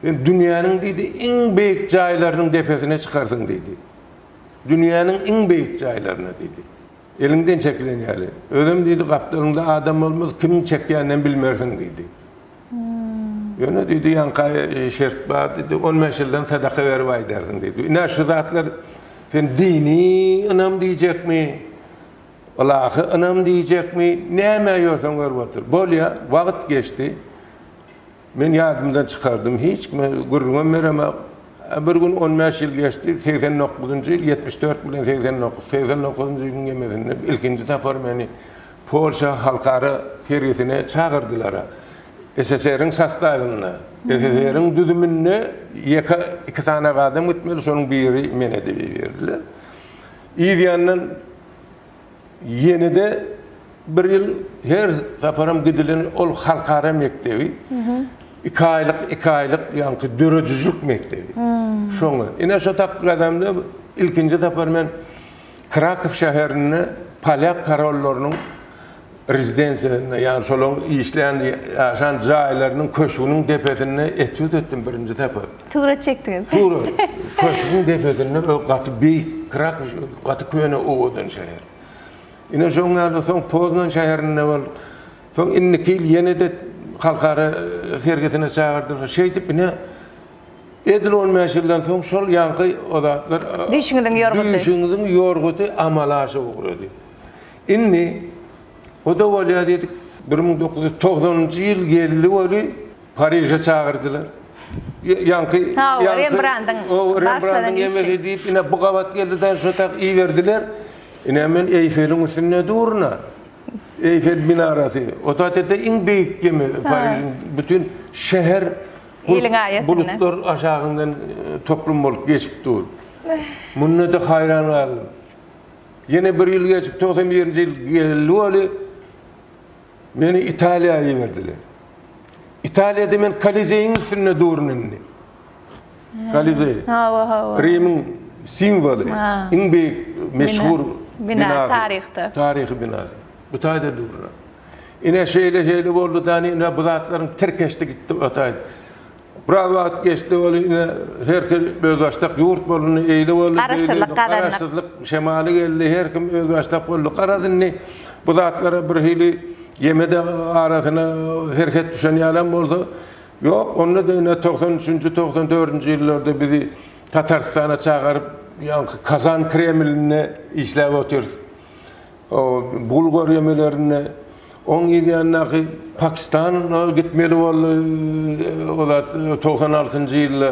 Sen dünýäniň diýdi, iň beýik jaýlarynyň depesine çykarsyň diýdi. Dünýäniň iň beýik jaýlaryna diýdi. Eliňden çekilen ýaly. Özem diýdi, gapdalyňda adam bolmaz, kimiň çekýäninem bilmersiň diýdi. Ýöne diýdi, ýaňky aý şert bar diýdi, on bäş ýyldan sadaka berip aýdarsyň diýdi. Ine, şu zatlar sen dini ynam diýjekmi, ylahy ynam diýjekmi, nämä ýörseň görüp otur. Bolýar, wagt geçdi. Men ýadymdan çykardym, hiç kime gürrüňem beremek. Bir gün on bäş ýyl geçdi, segsen dokuzynjy ýyl, ýetmiş dört bilen segsen dokuz, segsen dokuzynjy ýylyň ýemesinde ilkinji sapar meni Polşa halkara sergisine çagyrdylar. SSR-iň sostawynda, SSR-iň düzüminde ýeke iki sanaga adam gitmeli, şonuň biri men edip iberdiler. Yz ýandan ýene-de bir ýyl her saparam gidilen ol halkara mekdebi, iki aýlyk, iki aýlyk ýaňky döredijilik mekdebi. Şoňa. Ine şo tapgyr adamda ilkinji sapar men. Krakow şäherinde polýak korollarynyň rezidensiýasynda, ýagny şolaryň işleýän, ýaşan jaýlarynyň köşgüniň depesinde etýud etdim birinji sapar. Surat çekdiňiz. Surat. Köşgüň depesinde we gaty beýik. Krakow gaty köne owadan şäher. Ine şoň ýaly soň Poznan şäherinde bol. Soň indiki ýyl ýene-de halkara sergisine çagyrdylar. Şeýdip ine Edil on bäş ýyldan soň şol ýaňky o zatlar, Düýşüňiziň ýorguty. Düýşüňiziň ýorguty amala aşa ugrady. Indi o-da bolýa diýdik. Bir müň dokuz ýüz togsanynjy ýyl geldi weli, Pariže çagyrdylar. Ýaňky, ýaňky, Rembrandyň Rembrandyň emeli diýip, ine bu gabat geldi-de, şo tak iberdiler. Ine men Eýfeliň üstünde duruna. Eýfel minarasy. O zatda-da iň beýik gemi, Parižiň bütin şäher Iliň aýetinde. Bulutlar aşagyndan toplum bolup geçip dur. Munda-da haýran galdym. Ýene bir ýyl geçip, togsan birinji ýyl geldi weli, meni Italiýa iberdiler. Italiýada men Kolizeýiň üstünde durun indi. Kolizeý. Hawa, hawa. Rimiň simwoly, iň beýik meşhur binasy. Bina, taryhda. Taryhy binasy. Bu taýda durun. Ine, şeýle-şeýle boldy-da, ine, bu zatlaryň tirkeşdi gitdi, ataýyn. Biraz wagt geçdi, ol ine, her kim özbaşdak ýurt bolundy, eýle boldy, beýle boldy. Garaşsyzlyk gazandyk. Garaşsyzlyk şemaly geldi, her kim özbaşdak boldy. Garaz, indi bu zatlara birhili ýeme-de arasyna serhet düşen ýalam bolsa, ýok, onda-da ine, togsan üçünji, togsan dördünji ýyllarda bizi Tatarystana çagaryp, ýaňky Kazan Kremlinde işläp otyrys. gul görýemelerinde oň yzýandaky pakistana gitmeli boldy o zat togsan altynjy ýylda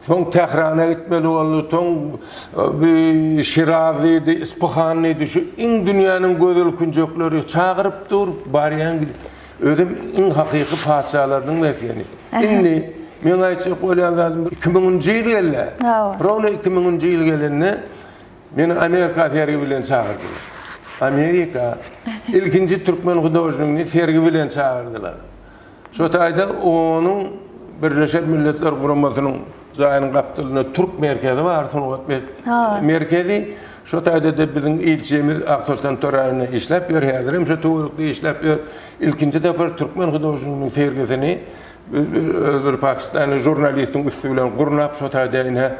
soň tährana gitmeli boldy soň bi şiraz diýdi ispahan diýdi şu iň dünýäniň gözel künjekleri çagyryp dur barýan gidip özem iň hakyky patyşalarynyň mesgeni indi meň aýtjak bolýan zadym iki müňünji ýyl geldi rowna iki müňünji ýyl gelende Meni Amerika sergi bilen çagyrdylar. Amerika ilkinji türkmen hudožnigini sergi bilen çagyrdylar. Şo taýda onuň Birleşen Milletler Guramasynyň jaýynyň gapdalynda türk merkezi bar, sungat merkezi. Şo taýda-da biziň ilçimiz Aksoltan Toraýewna işläp ýör, häzirem şo töwerekde işläp ýör. Ilkinji sapar türkmen hudožniginiň sergisini biz öz bir pakistanly žurnalistiň üsti bilen gurnap, şo taýda ine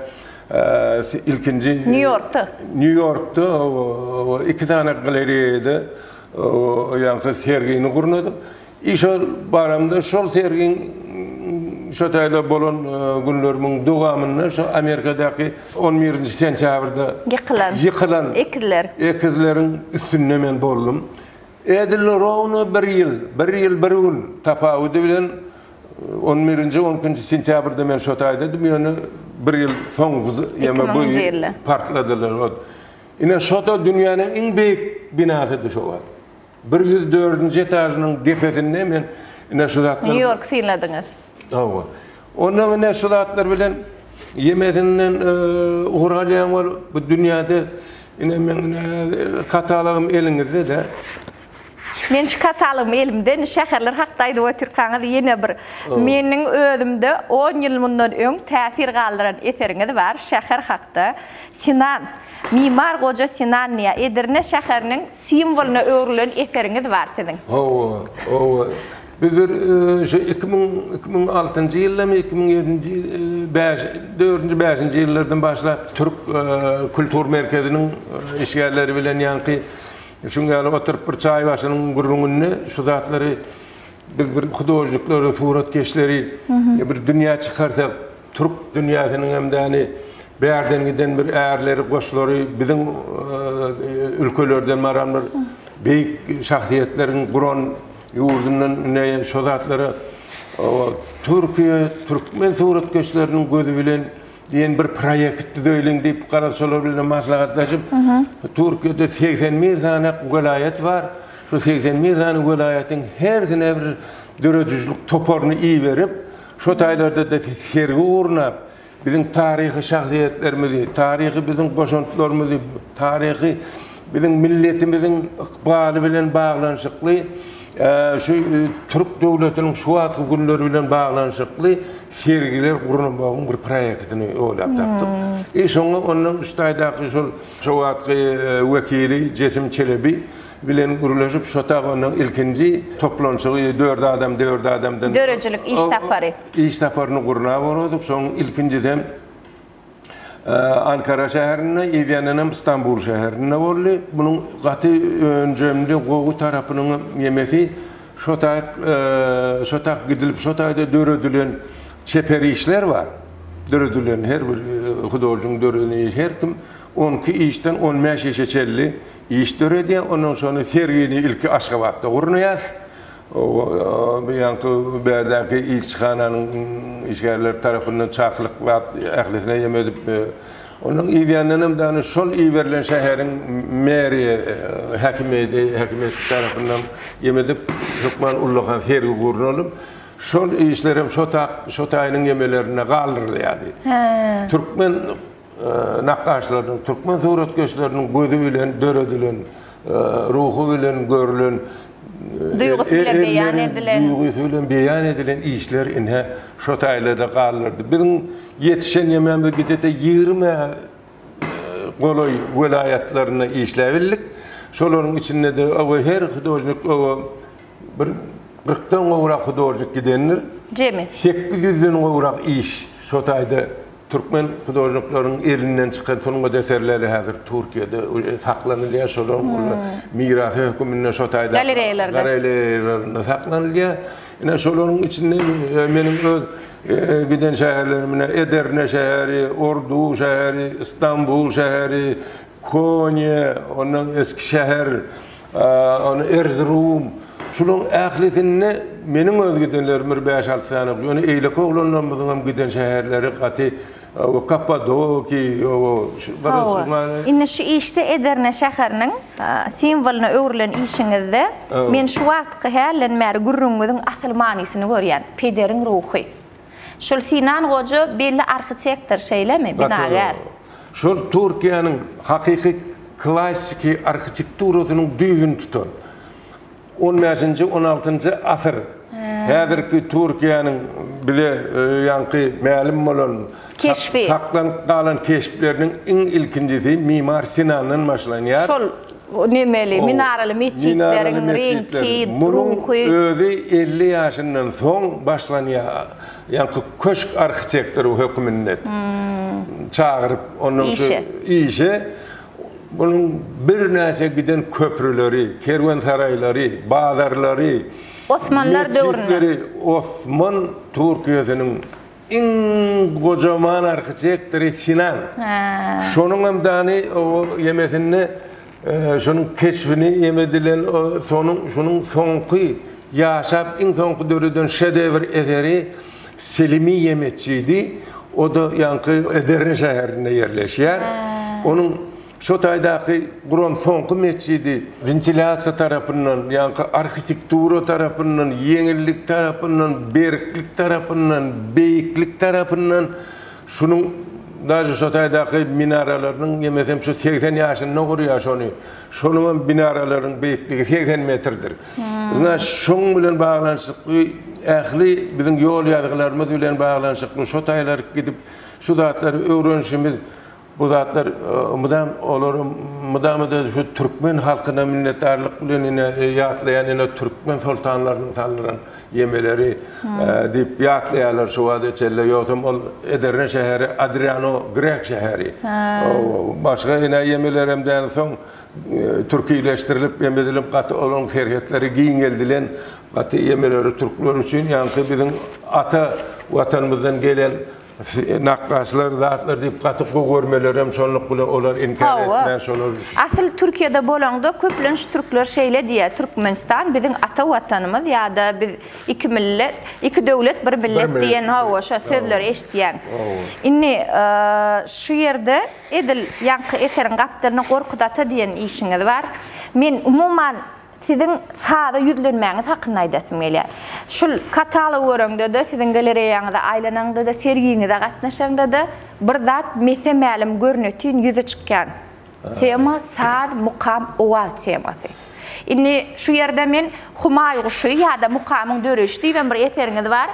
Ilkinji Nýu-Ýorkda. Nýu-Ýorkda iki sany galereýada ýaňky sergini gurnadyk. I şol baramda şol sergiň şo taýda bolan günlerimiň dowamynda şu Amerikadaky on birinji sentýabrda Ýykylan. Ýykylan. Ekizler. Ekizleriň üstünde men boldum. Edil rowno bir ýyl, bir ýyl bir gün tapawudy bilen, On birinji, on ikinji sentýabrda men şo taýdadym, ýöne bir ýyl soň bu z- Iki ýa-da bu müňünji ýyl ýylda. partladylar. Ot. Ine, şo-da dünýäniň iň beýik binasydy şo wagt. Bir ýüz dördünji etažynyň depesinde men ine şu zatlar Nýu-Ýorky synladyňyz. Hawa. Onnoň ine şu zatlar bilen ýemesinden eee, ugur alýaň bolup, bu dünýäde ine meň ine katalogym eliňizde-de. Men şu katalogymy elimde indi şäherler hakda aýdyp otyrkaňyz ýene bir meniň özümde on ýyl mundan öň täsir galdyran eseriňiz bar şäher hakda. Sinan, Mimar Goja Sinan diýýär. Edirne şäheriniň simwolyna öwrülen eseriňiz bar siziň. Hawa, hawa. Biz bir şu iki müň, iki müň altynjy ýyldamy, iki müň ýedinji, bäş, dördünji, bäşinji ýyllardan başlap türk kultur merkeziniň işgärleri bilen ýaňky Şuň ýaly oturyp bir çaý başynyň gürrüňinde şu zatlary biz bir hudožniklary, suratkeşleri bir dünýä çykarsak, türk dünýäsiniň hem däli bärden giden bir ärleri, goşlary, biziň ülkelerden baran bir beýik şahsyýetleriň guran ýurdundan ine şo zatlara Türkiýe, türkmen suratkeşleriniň gözi bilen Diýen bir proýekt düzeýliň diýip, garaşsylar bilen maslahatlaşyp, Türkiýede segsen bir sany welaýat bar. Şu segsen bir sany welaýatyň hersine bir döredijilik toparyny iberip, şo taýlarda-da sergi gurnap, biziň taryhy şahsyýetlerimizi, taryhy biziň goşantlarymyzy, taryhy biziň milletimiziň ykbaly bilen baglanyşykly, şu türk döwletiniň şu wagtky günleri bilen baglanyşykly Sergiler guramagyň bir proýektini oýlap tapdyk. I şoňa ondan üç taýdaky şol şo wagtky wekili Jesim Çelebi bilen gürleşip şotag ondan ilkinji toplanşygy dört adam dört adamdan Döredijilik iş sapary. Iş saparyny gurnap olardyk. Şoň ilkinjisi hem Ankara şäherinde, Edenenem Stambul şäherinde boldy. Munuň gaty önjemde gowy tarapynyň ýemesi şo taýyk şo taýyk gidilip şo taýda döredilen çeper işler bar. Döredilen her bir hudožnigiň döreden işi her kim on iki işden on bäş işe çenli iş döredýär. Ondan şony sergini ilki Aşgabatda gurnaýas. Bu ýaňky bärdäki ilçihananyň işgärleri tarapyndan çakylyk zat ählisine ýem edip, ondan yzýandanam dany şol iberilen şäheriň meriýa häkimiýeti, häkimiýeti tarapyndan ýem edip, hökman ullakan sergi gurnalyp, şol işlerem şo tak, şo taýynyň ýemelerinde galdyrylýardy. Türkmen. nakgaşlarynyň, türkmen suratkeşleriniň gözi bilen döredilen, ruhy bilen görülen, Duýgusy bilen beýan edilen. Duýgusy bilen beýan edilen işler ine, şo taýlarda galdyrdy. Biziň ýetişen ýemegimiz gijede ýigrimä golaý welaýatlarynda işläbildik. Şolaryň içinde-de oba her hudožnik oba Bir kyrkdan gowrak hudožnik gidendir. Jemi. Sekiz ýüzden gowrak iş şo taýda türkmen hudožnikleriň elinden çykan sungat eserleri häzir Türkiýede saklanylýar. Şolaryň olar mirasy höküminde şo taýda Galereýalarda. galereýalarynda saklanylýar. Ine, şolaryň içinde meniň öz giden şäherlerim, ine, Edirne şäheri, Ordu şäheri, Stambul şäheri, Konýa, ondan Eskişehir, Ony Erzurum. Şularyň ählisinde meniň öz gidenlerim bir bäş-alty sany. Ýöne eýleki oglanlarymyzyňam giden şäherleri gaty o Kappadoki, o Hawa. Indi şu işde Edirne şäheriniň simwolyna öwrülen işiňizde men şu wagtky hälden bäri gürrüňiňiziň asyl manysyny görýän. Pederiň ruhy. Şul Sinan goja belli arhitektor şeýlemi, binagär? Şol Türkiýäniň hakyky klasiki arhitekturasynyň düýbüni tutan, on bäşinji, on altynjy asyr, häzirki Türkiýäniň bize ýaňky mälim bolan, saklanyp galan keşpleriniň iň ilkinjisi mimar Sinandan başlanýar. nemeli, minaraly metjitleriň reňki, ruhy. Munuň özi elli ýaşyndan soň başlanýan köşk arhitektory hökmünde çagyryp, ondan şu işe munuň birnäçe giden köprüleri, kerwensaraýlary, bazarlary, metjitleri Osman Türkiýesiniň Iň gojaman arhitektory Sinan. Şonuň hem dany o ýemesinde şonuň keşbini ýemedilen o sonuň şunuň soňky ýaşap iň soňky döreden şedewr eseri Selimi ýemesçidi. O-da ýaňky Edirne şäherinde ýerleşýär. Onuň Şo taýdaky guran soňky metjidi wentilýasiýa tarapyndan, ýaňky arhitektura tarapyndan, ýeňillik tarapyndan, berklik tarapyndan, beýiklik tarapyndan şunuň daže şo taýdaky minaralarynyň ýemesem şu segsen ýaşynda gurýar şony. Şonuň hem binaralaryň beýikligi segsen metrdir. Yzna şoň bilen baglanyşykly ähli biziň ýol ýazgylarymyz bilen baglanyşykly şo taýlaryk gidip şu zatlary öwrenişimiz Bu zatlar mydam olar mydama-da şu türkmen halkyna minnetdarlyk bilen ine ýatlaýan ine türkmen soltanlarynyň saldyran ýemeleri diýip ýatlaýarlar şu wagta çenli. Ýogsam ol Edirne şäheri Adriano grek şäheri. Başga ine ýemelerem däl soň türkileşdirilip ýeme edilip gaty olaryň serhetleri giňeldilen gaty ýemeleri türkler üçin ýaňky biziň ata watanymyzdan gelen Nakgaşlar zatlar diýip gaty gowy görmelerem şonluk bilen olar inkär etmän şolar. Asyl Türkiýede bolaňda köplenç türkler şeýle diýýär Türkmenistan biziň ata watanymyz ýa-da biz iki millet iki döwlet bir millet diýen hawa şo sözleri eşitýän. Indi şu ýerde edil ýaňky eseriň gapdalynda Gorkut ata diýen işiňiz bar. Men umuman Siziň saza ýüzlenmäňiz hakynda aýdasym gelýär. Şul katalogy göreňde-de, siziň galereýaňyza aýlanaňda-da, sergiňize gatnaşaňda-da bir zat mese-mälim görnetin ýüze çykýan tema saz, mukam, owaz temasy. Indi şu ýerde men Humaý guşy ýa-da Mukamyň döreýşi diýibem bir eseriňiz bar.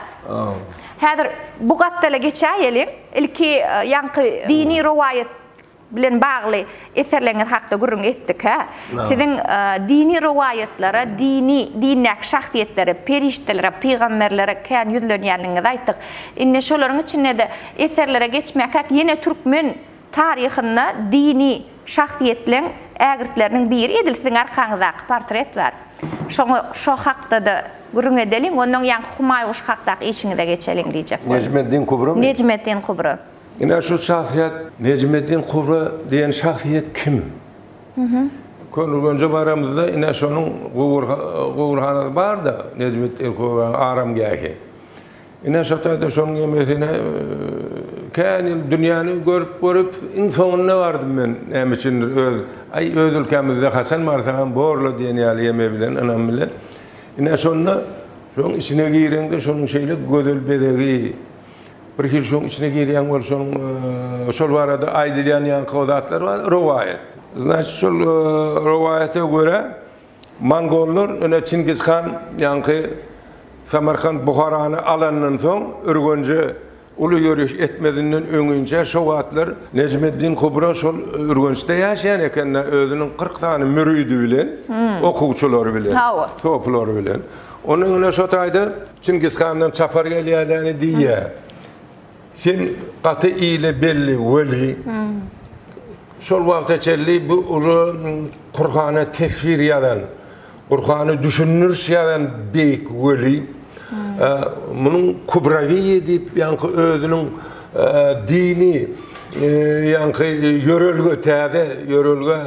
Häzir bu gapdala geçäýeliň. Ilki ýaňky dini rowaýat bilen bagly eserleriňiz hakda gürrüň etdikä, siziň dini rowaýatlara, dini, dindäki şahsyýetlere, perişdelere, pygamberlere kän ýüzlenýändigiňizi aýtdyk. Indi şolaryň içinde-de eserlere geçmäkäk ýene türkmen taryhynda dini şahsyýetleň ägirtleriniň biri edil siziň arkaňyzdaky portret bar. Şoňa şo hakda-da gürrüň edeliň, ondan ýaňky Humaýguş hakdaky işiňize geçeliň diýjek boldum. Nejmeddin Kubra. Nejmeddin Kubra. Ine şu şahsyýet Nejmeddin Kubra diýen şahsyýet kim? Köneürgenje baramyzda ine şonuň guburhanasy barda Nejmeddin Kubranyň aramgähi. Ine şo taýda şonuň ýemesine kän ýyl dünýäni görüp görüp iň soňunda bardym men näme üçindir öz aý öz ülkämizde haçan barsagam borla diýen ýaly ýeme bilen ynam bilen. Ine şonda şoň içine gireňde şonuň şeýle gözel bezegi Birhili şoň içine girýän bolsaň, şol barada aýdylýan ýaňky o zatlar bar, rowaýat. Znaçit şol rowaýata görä mongollar ine Çingiz han ýaňky Samarkant Buharany alandan soň Ürgenje uly ýöriş etmezinden öňinçä şo wagtlar Nejmeddin Kubra şol Ürgençde ýaşaýan ekende özüniň kyrk sany müridi bilen, okuwçylary bilen, topulary bilen. Onda ine şo taýda. Çingiz handan çapar gelýärläni diýýä. Sen gaty ile belli weli, şol wagta çenli bu uly Kurhana tefsir ýazan, Kurhany düşündiriş ýazan beýik weli, munuň Kubrawiýi diýip ýaňky özüniň dini ýaňky ýörelge, täze ýörelge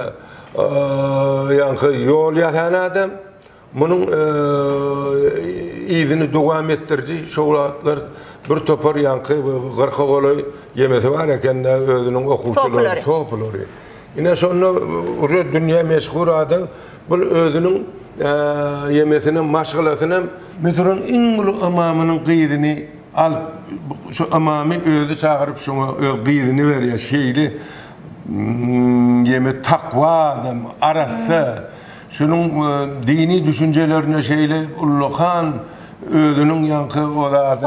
ýaňky ýol ýasan adam. Munuň yzyny dowam etdiriji şowlatlar bir topar ýaňky gyrka golaý ýemesi bar eken-dä özüniň okuwçylary, sopulary. Ine şonda uje dünýä meşhur adam bul özüniň ýemesini hem, maşgalasyny hem. Müsüriň iň uly ymamynyň gyzyny alyp, şu ymamy özi çagyryp şoňa öz gyzyny berýär. Şeýle ýeme takwa adam, arassa. Şunuň dini düşünjelerine şeýle ullakan özüniň ýaňky o zady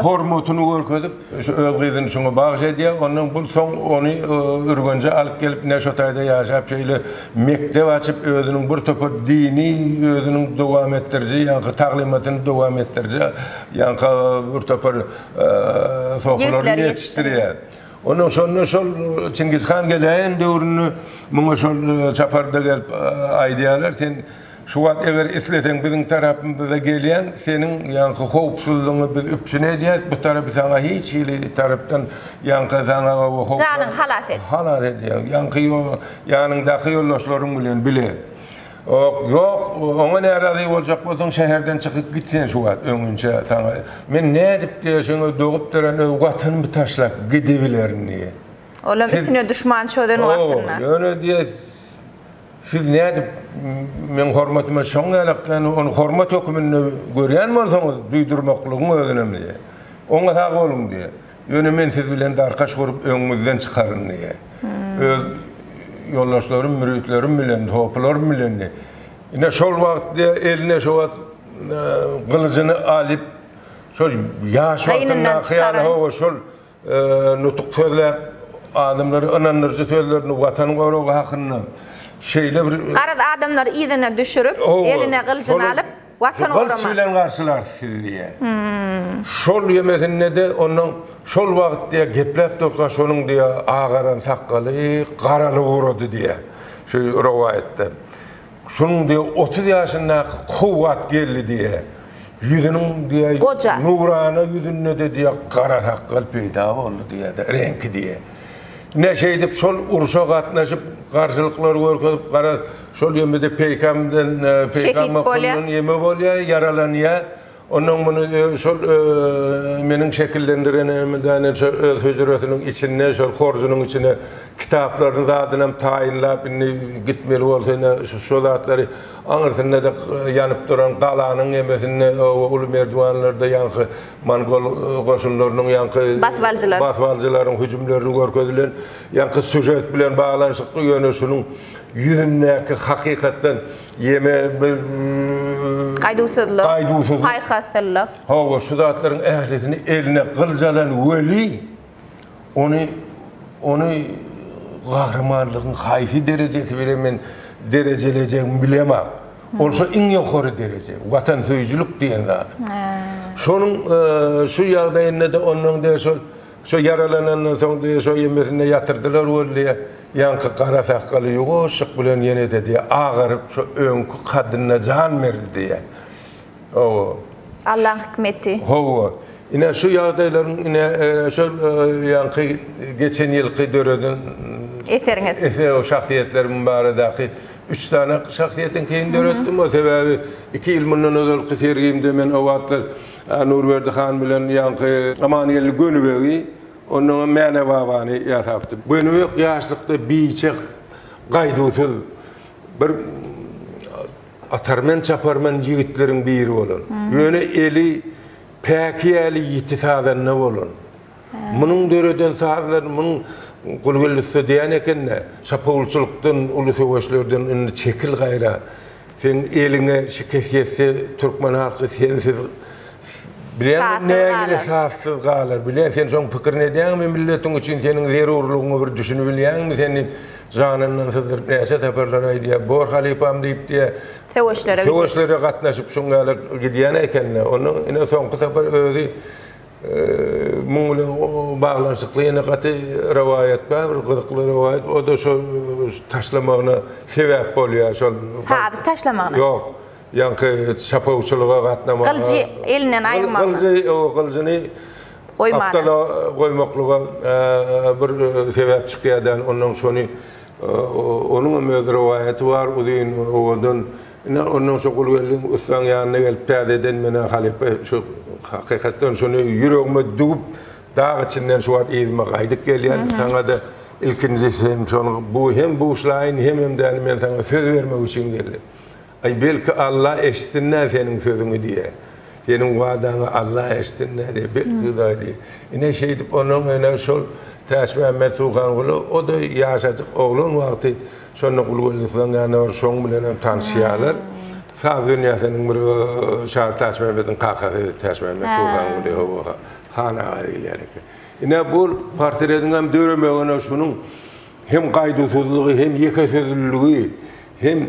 hormatyny görkezip, şu öz gyzyny şuňa bagyş edýär. Ondan bu soň ony Ürgenje alyp gelip, Neşotaýda ýaşap, şeýle mekdep açyp, özüniň bir topar dini özüniň dowam etdiriji, ýaňky taglymatyny dowam etdiriji ýaňky bir topar sopulary ýetişdirýär. Ondan şonda şol Çingiz han geläýen döwründe muňa şol çaparda gelip aýdýarlar, sen şu wagt eger isleseň biziň tarapymyza gelýäň, seniň ýaňky howpsuzlygyňy biz üpjün edýäs, bu tarapy saňa hiç hili tarapdan ýaňky saňa howp. Janyňy halas et. Halas edýäň. Ýaňky ýanyňdaky ýoldaşlaryň bilen bile. Ok, ýok, oňa närazy boljak bolsaň, şäherden çykyp git sen şu wagt, öňinçä saňa men nädip-de şeňe dogup dören öý gatynymy taşlap gidibilerin diýýär. Olam üstüne duşman çözen wagtynda. Howw, ýöne diýýär, siz nädip meň hormatyma şoň ýalakdan ony hormat höküminde görýän bolsaňyz, duýdurmaklygyň özünem diýýär. Oňa sag boluň diýýär. Ýöne men siz bilen darkaş gurup öňüňizden çykaryn diýýä. Öz ýoldaşlarym, müritlerim bilendi, hopylarym bilendi. Ine şol wagt diýýä, eline şo wagt gylyjyny alyp, şol ýaş wagtyndaky ýaly hawa şol nutuk sözläp, adamlara ynandyryjy sözlerini Watan goragy hakynda şeýle bir. Garaz adamlary yzyna düşürip, eline gylyjyny alyp. Watan gorama. Gylyç bilen garşylarys sizi diýýär. Şol ýemesinde-de onuň şol wagt diýýär, gepläp durka şonuň diýýär, agaran sakgaly garalyp ugrady diýýär. Şu rowaýatda. Şonuň diýýär, otuz ýaşyndaky kowgat geldi diýýär. Ýüzüniň diýýär, Goja. nurana ýüzünde-de diýýär, gara sakgal peýda boldy diýýär-de, reňki diýýär. Ine şeýdip şol urşa gatnaşyp, garşylyklar görkezip, gara. Şol ýemede peýkamdan, peýkam bokundan ýeme bolýar, ýaralanýar. Ondan muny şol meniň şekillendiren şu öz hüjresiniň içinde, şol horjunyň içine kitaplaryny zadynam taýynlap, indi gitmeli bolsa ine şu zatlary aňyrsynda-da ýanyp duran galanyň ýemesinde oba uly merdiwanlarda ýaňky mongol goşunlarynyň ýaňky basybalyjylaryň hüjümlerini görkezilen ýaňky sýužet bilen baglanyşykly ýöne şunuň ýüzündäki hakykatdan ýeme gaýduwsyzlyk, gaýduwsyzlyk, paýhaslylyk. Hawa, şu zatlaryň ählisini eline gylyç alan weli ony ony gahrymanlygyň haýsy derejesi bilen men derejelejegimi bilemok. Ol şo iň ýokary dereje, watansöýüjilik diýen zat. Şonuň şu ýagdaýynda-da onnoň däl şol Şo ýaralanandan soň diýýär, şo emmesinde ýatyrdylar weli diýýär, ýaňky gara sakgaly ýuwaşjyk bilen ýene-de diýýär, agaryp, şo öňki kadyna jan berdi diýýär. Hawa. Allaň hikmeti. Hawa. Ine, şu ýagdaýlaryň, ine, şol ýaňky geçen ýylky döreden Eseriňiz. Eser, şahsyýetlerim baradaky üç sany şahsyýetiňkini döretdim. Sebäbi iki ýyl mundan ozalky sergimde men o wagtlar Nurberdi han bilen ýaňky Amangeldi Gönübegi, onnoň hem Mäne babany ýasapdy. Gönübek ýaşlykda biçak, gaýduwsyz bir atarmen-çaparmen ýigitleriň biri bolan. Ýöne eli päki ýaly ýiti sazanda bolan. Munuň döreden sazlary munuň Gulgelüste diýen eken-de, Çapawulçylykdan, uly söweşlerden indi çekil gaýra. Seň eliňe şikes ýetse, türkmen halky sensiz, bilýäňmi, nägile sazsyz galar. Bilýän, sen şoň pikirini edýäňmi, milletiň üçin seniň zerurlygyňy bir düşünibilýäňmi sen diýip, janyndan syzdyryp näçe saparlar aýdýar. Bor halypam diýip diýýär. Söweşlere gitdi. Söweşlere gatnaşyp şuň ýaly gidýän eken-de. Ondan ine soňky sapar özi. Muň bilen baglanyşykly ýene gaty rowaýat bar, bir gyzykly rowaýat, o-da şo taşlamagyna sebäp bolýar, şol. Sazy taşlamagyna? Ýok, ýaňky çapawçylyga gatnamaga. Gylyjy elinden aýyrmaga. Gylyjy, owo, gylyjyny gapdala goýmaklyga bir sebäp çykýar däl, onnoň şony, onuňam öz rowaýaty bar, uzyn owadan. Ine, ondan soň Gulgeldiň ussaň ýanyna gelip, täzeden men-ä halypa şu hakykatdan şuny ýüregime düwüp, dag içinden şu wagt yzyma gaýdyp gelýän. Saňa-da ilkinji hem şony bu hem buşlaýyn, hemem-de men saňa söz bermek üçin geldim. Aý, belki Alla eşitsin-dä seniň sözüňi diýýä. Seniň wadaňy Alla eşitsin-dä diýýä. Belki Hudaý diýýä. Ine, şeýdip, onuň ene şol Täçmämmet Suhangula, o-da ýaşajyk oglan wagty, Şonda uly gözlükleň ýanyna bar, şoň bilenem tanyşýarlar. Saz dünýäsiniň bir şary Täçmämmediň kakasy Täçmämmet Suhanguly Howa Han aga diýilýär eken. Ine bu portretiň hem döremegine şunuň hem gaýduwsyzlygy, hem ýeke sözlüligi, hem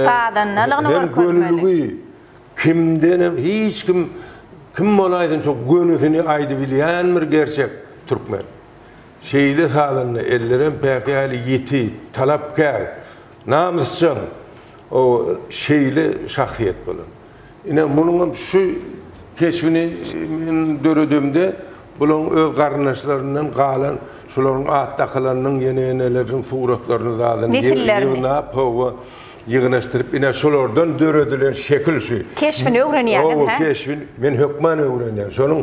Sazandalygyny görkezmeli. Hem gönüligi, kimdenem hiç kim kim bolaýsyn şo gönüsini aýdybilýän bir gerçek türkmen. Şeýle salanda ellerem päkgäli ýiti, talapkär, namysjaň, oba, şeýle şahsyýet bolan. Ine, munuňam şu keşbini men döredemde, bulaň öz garyndaşlaryndan galan, şularyň at dakylanynyň, ýene-ýeneleriniň suratlaryny zadyn ýygnap, hawa, ýygnaşdyryp, ine, şolardan döredilen şekil şu. Keşbini öwrenýäňiz, hä? Oba, keşbini men hökman öwrenýän. Şonuň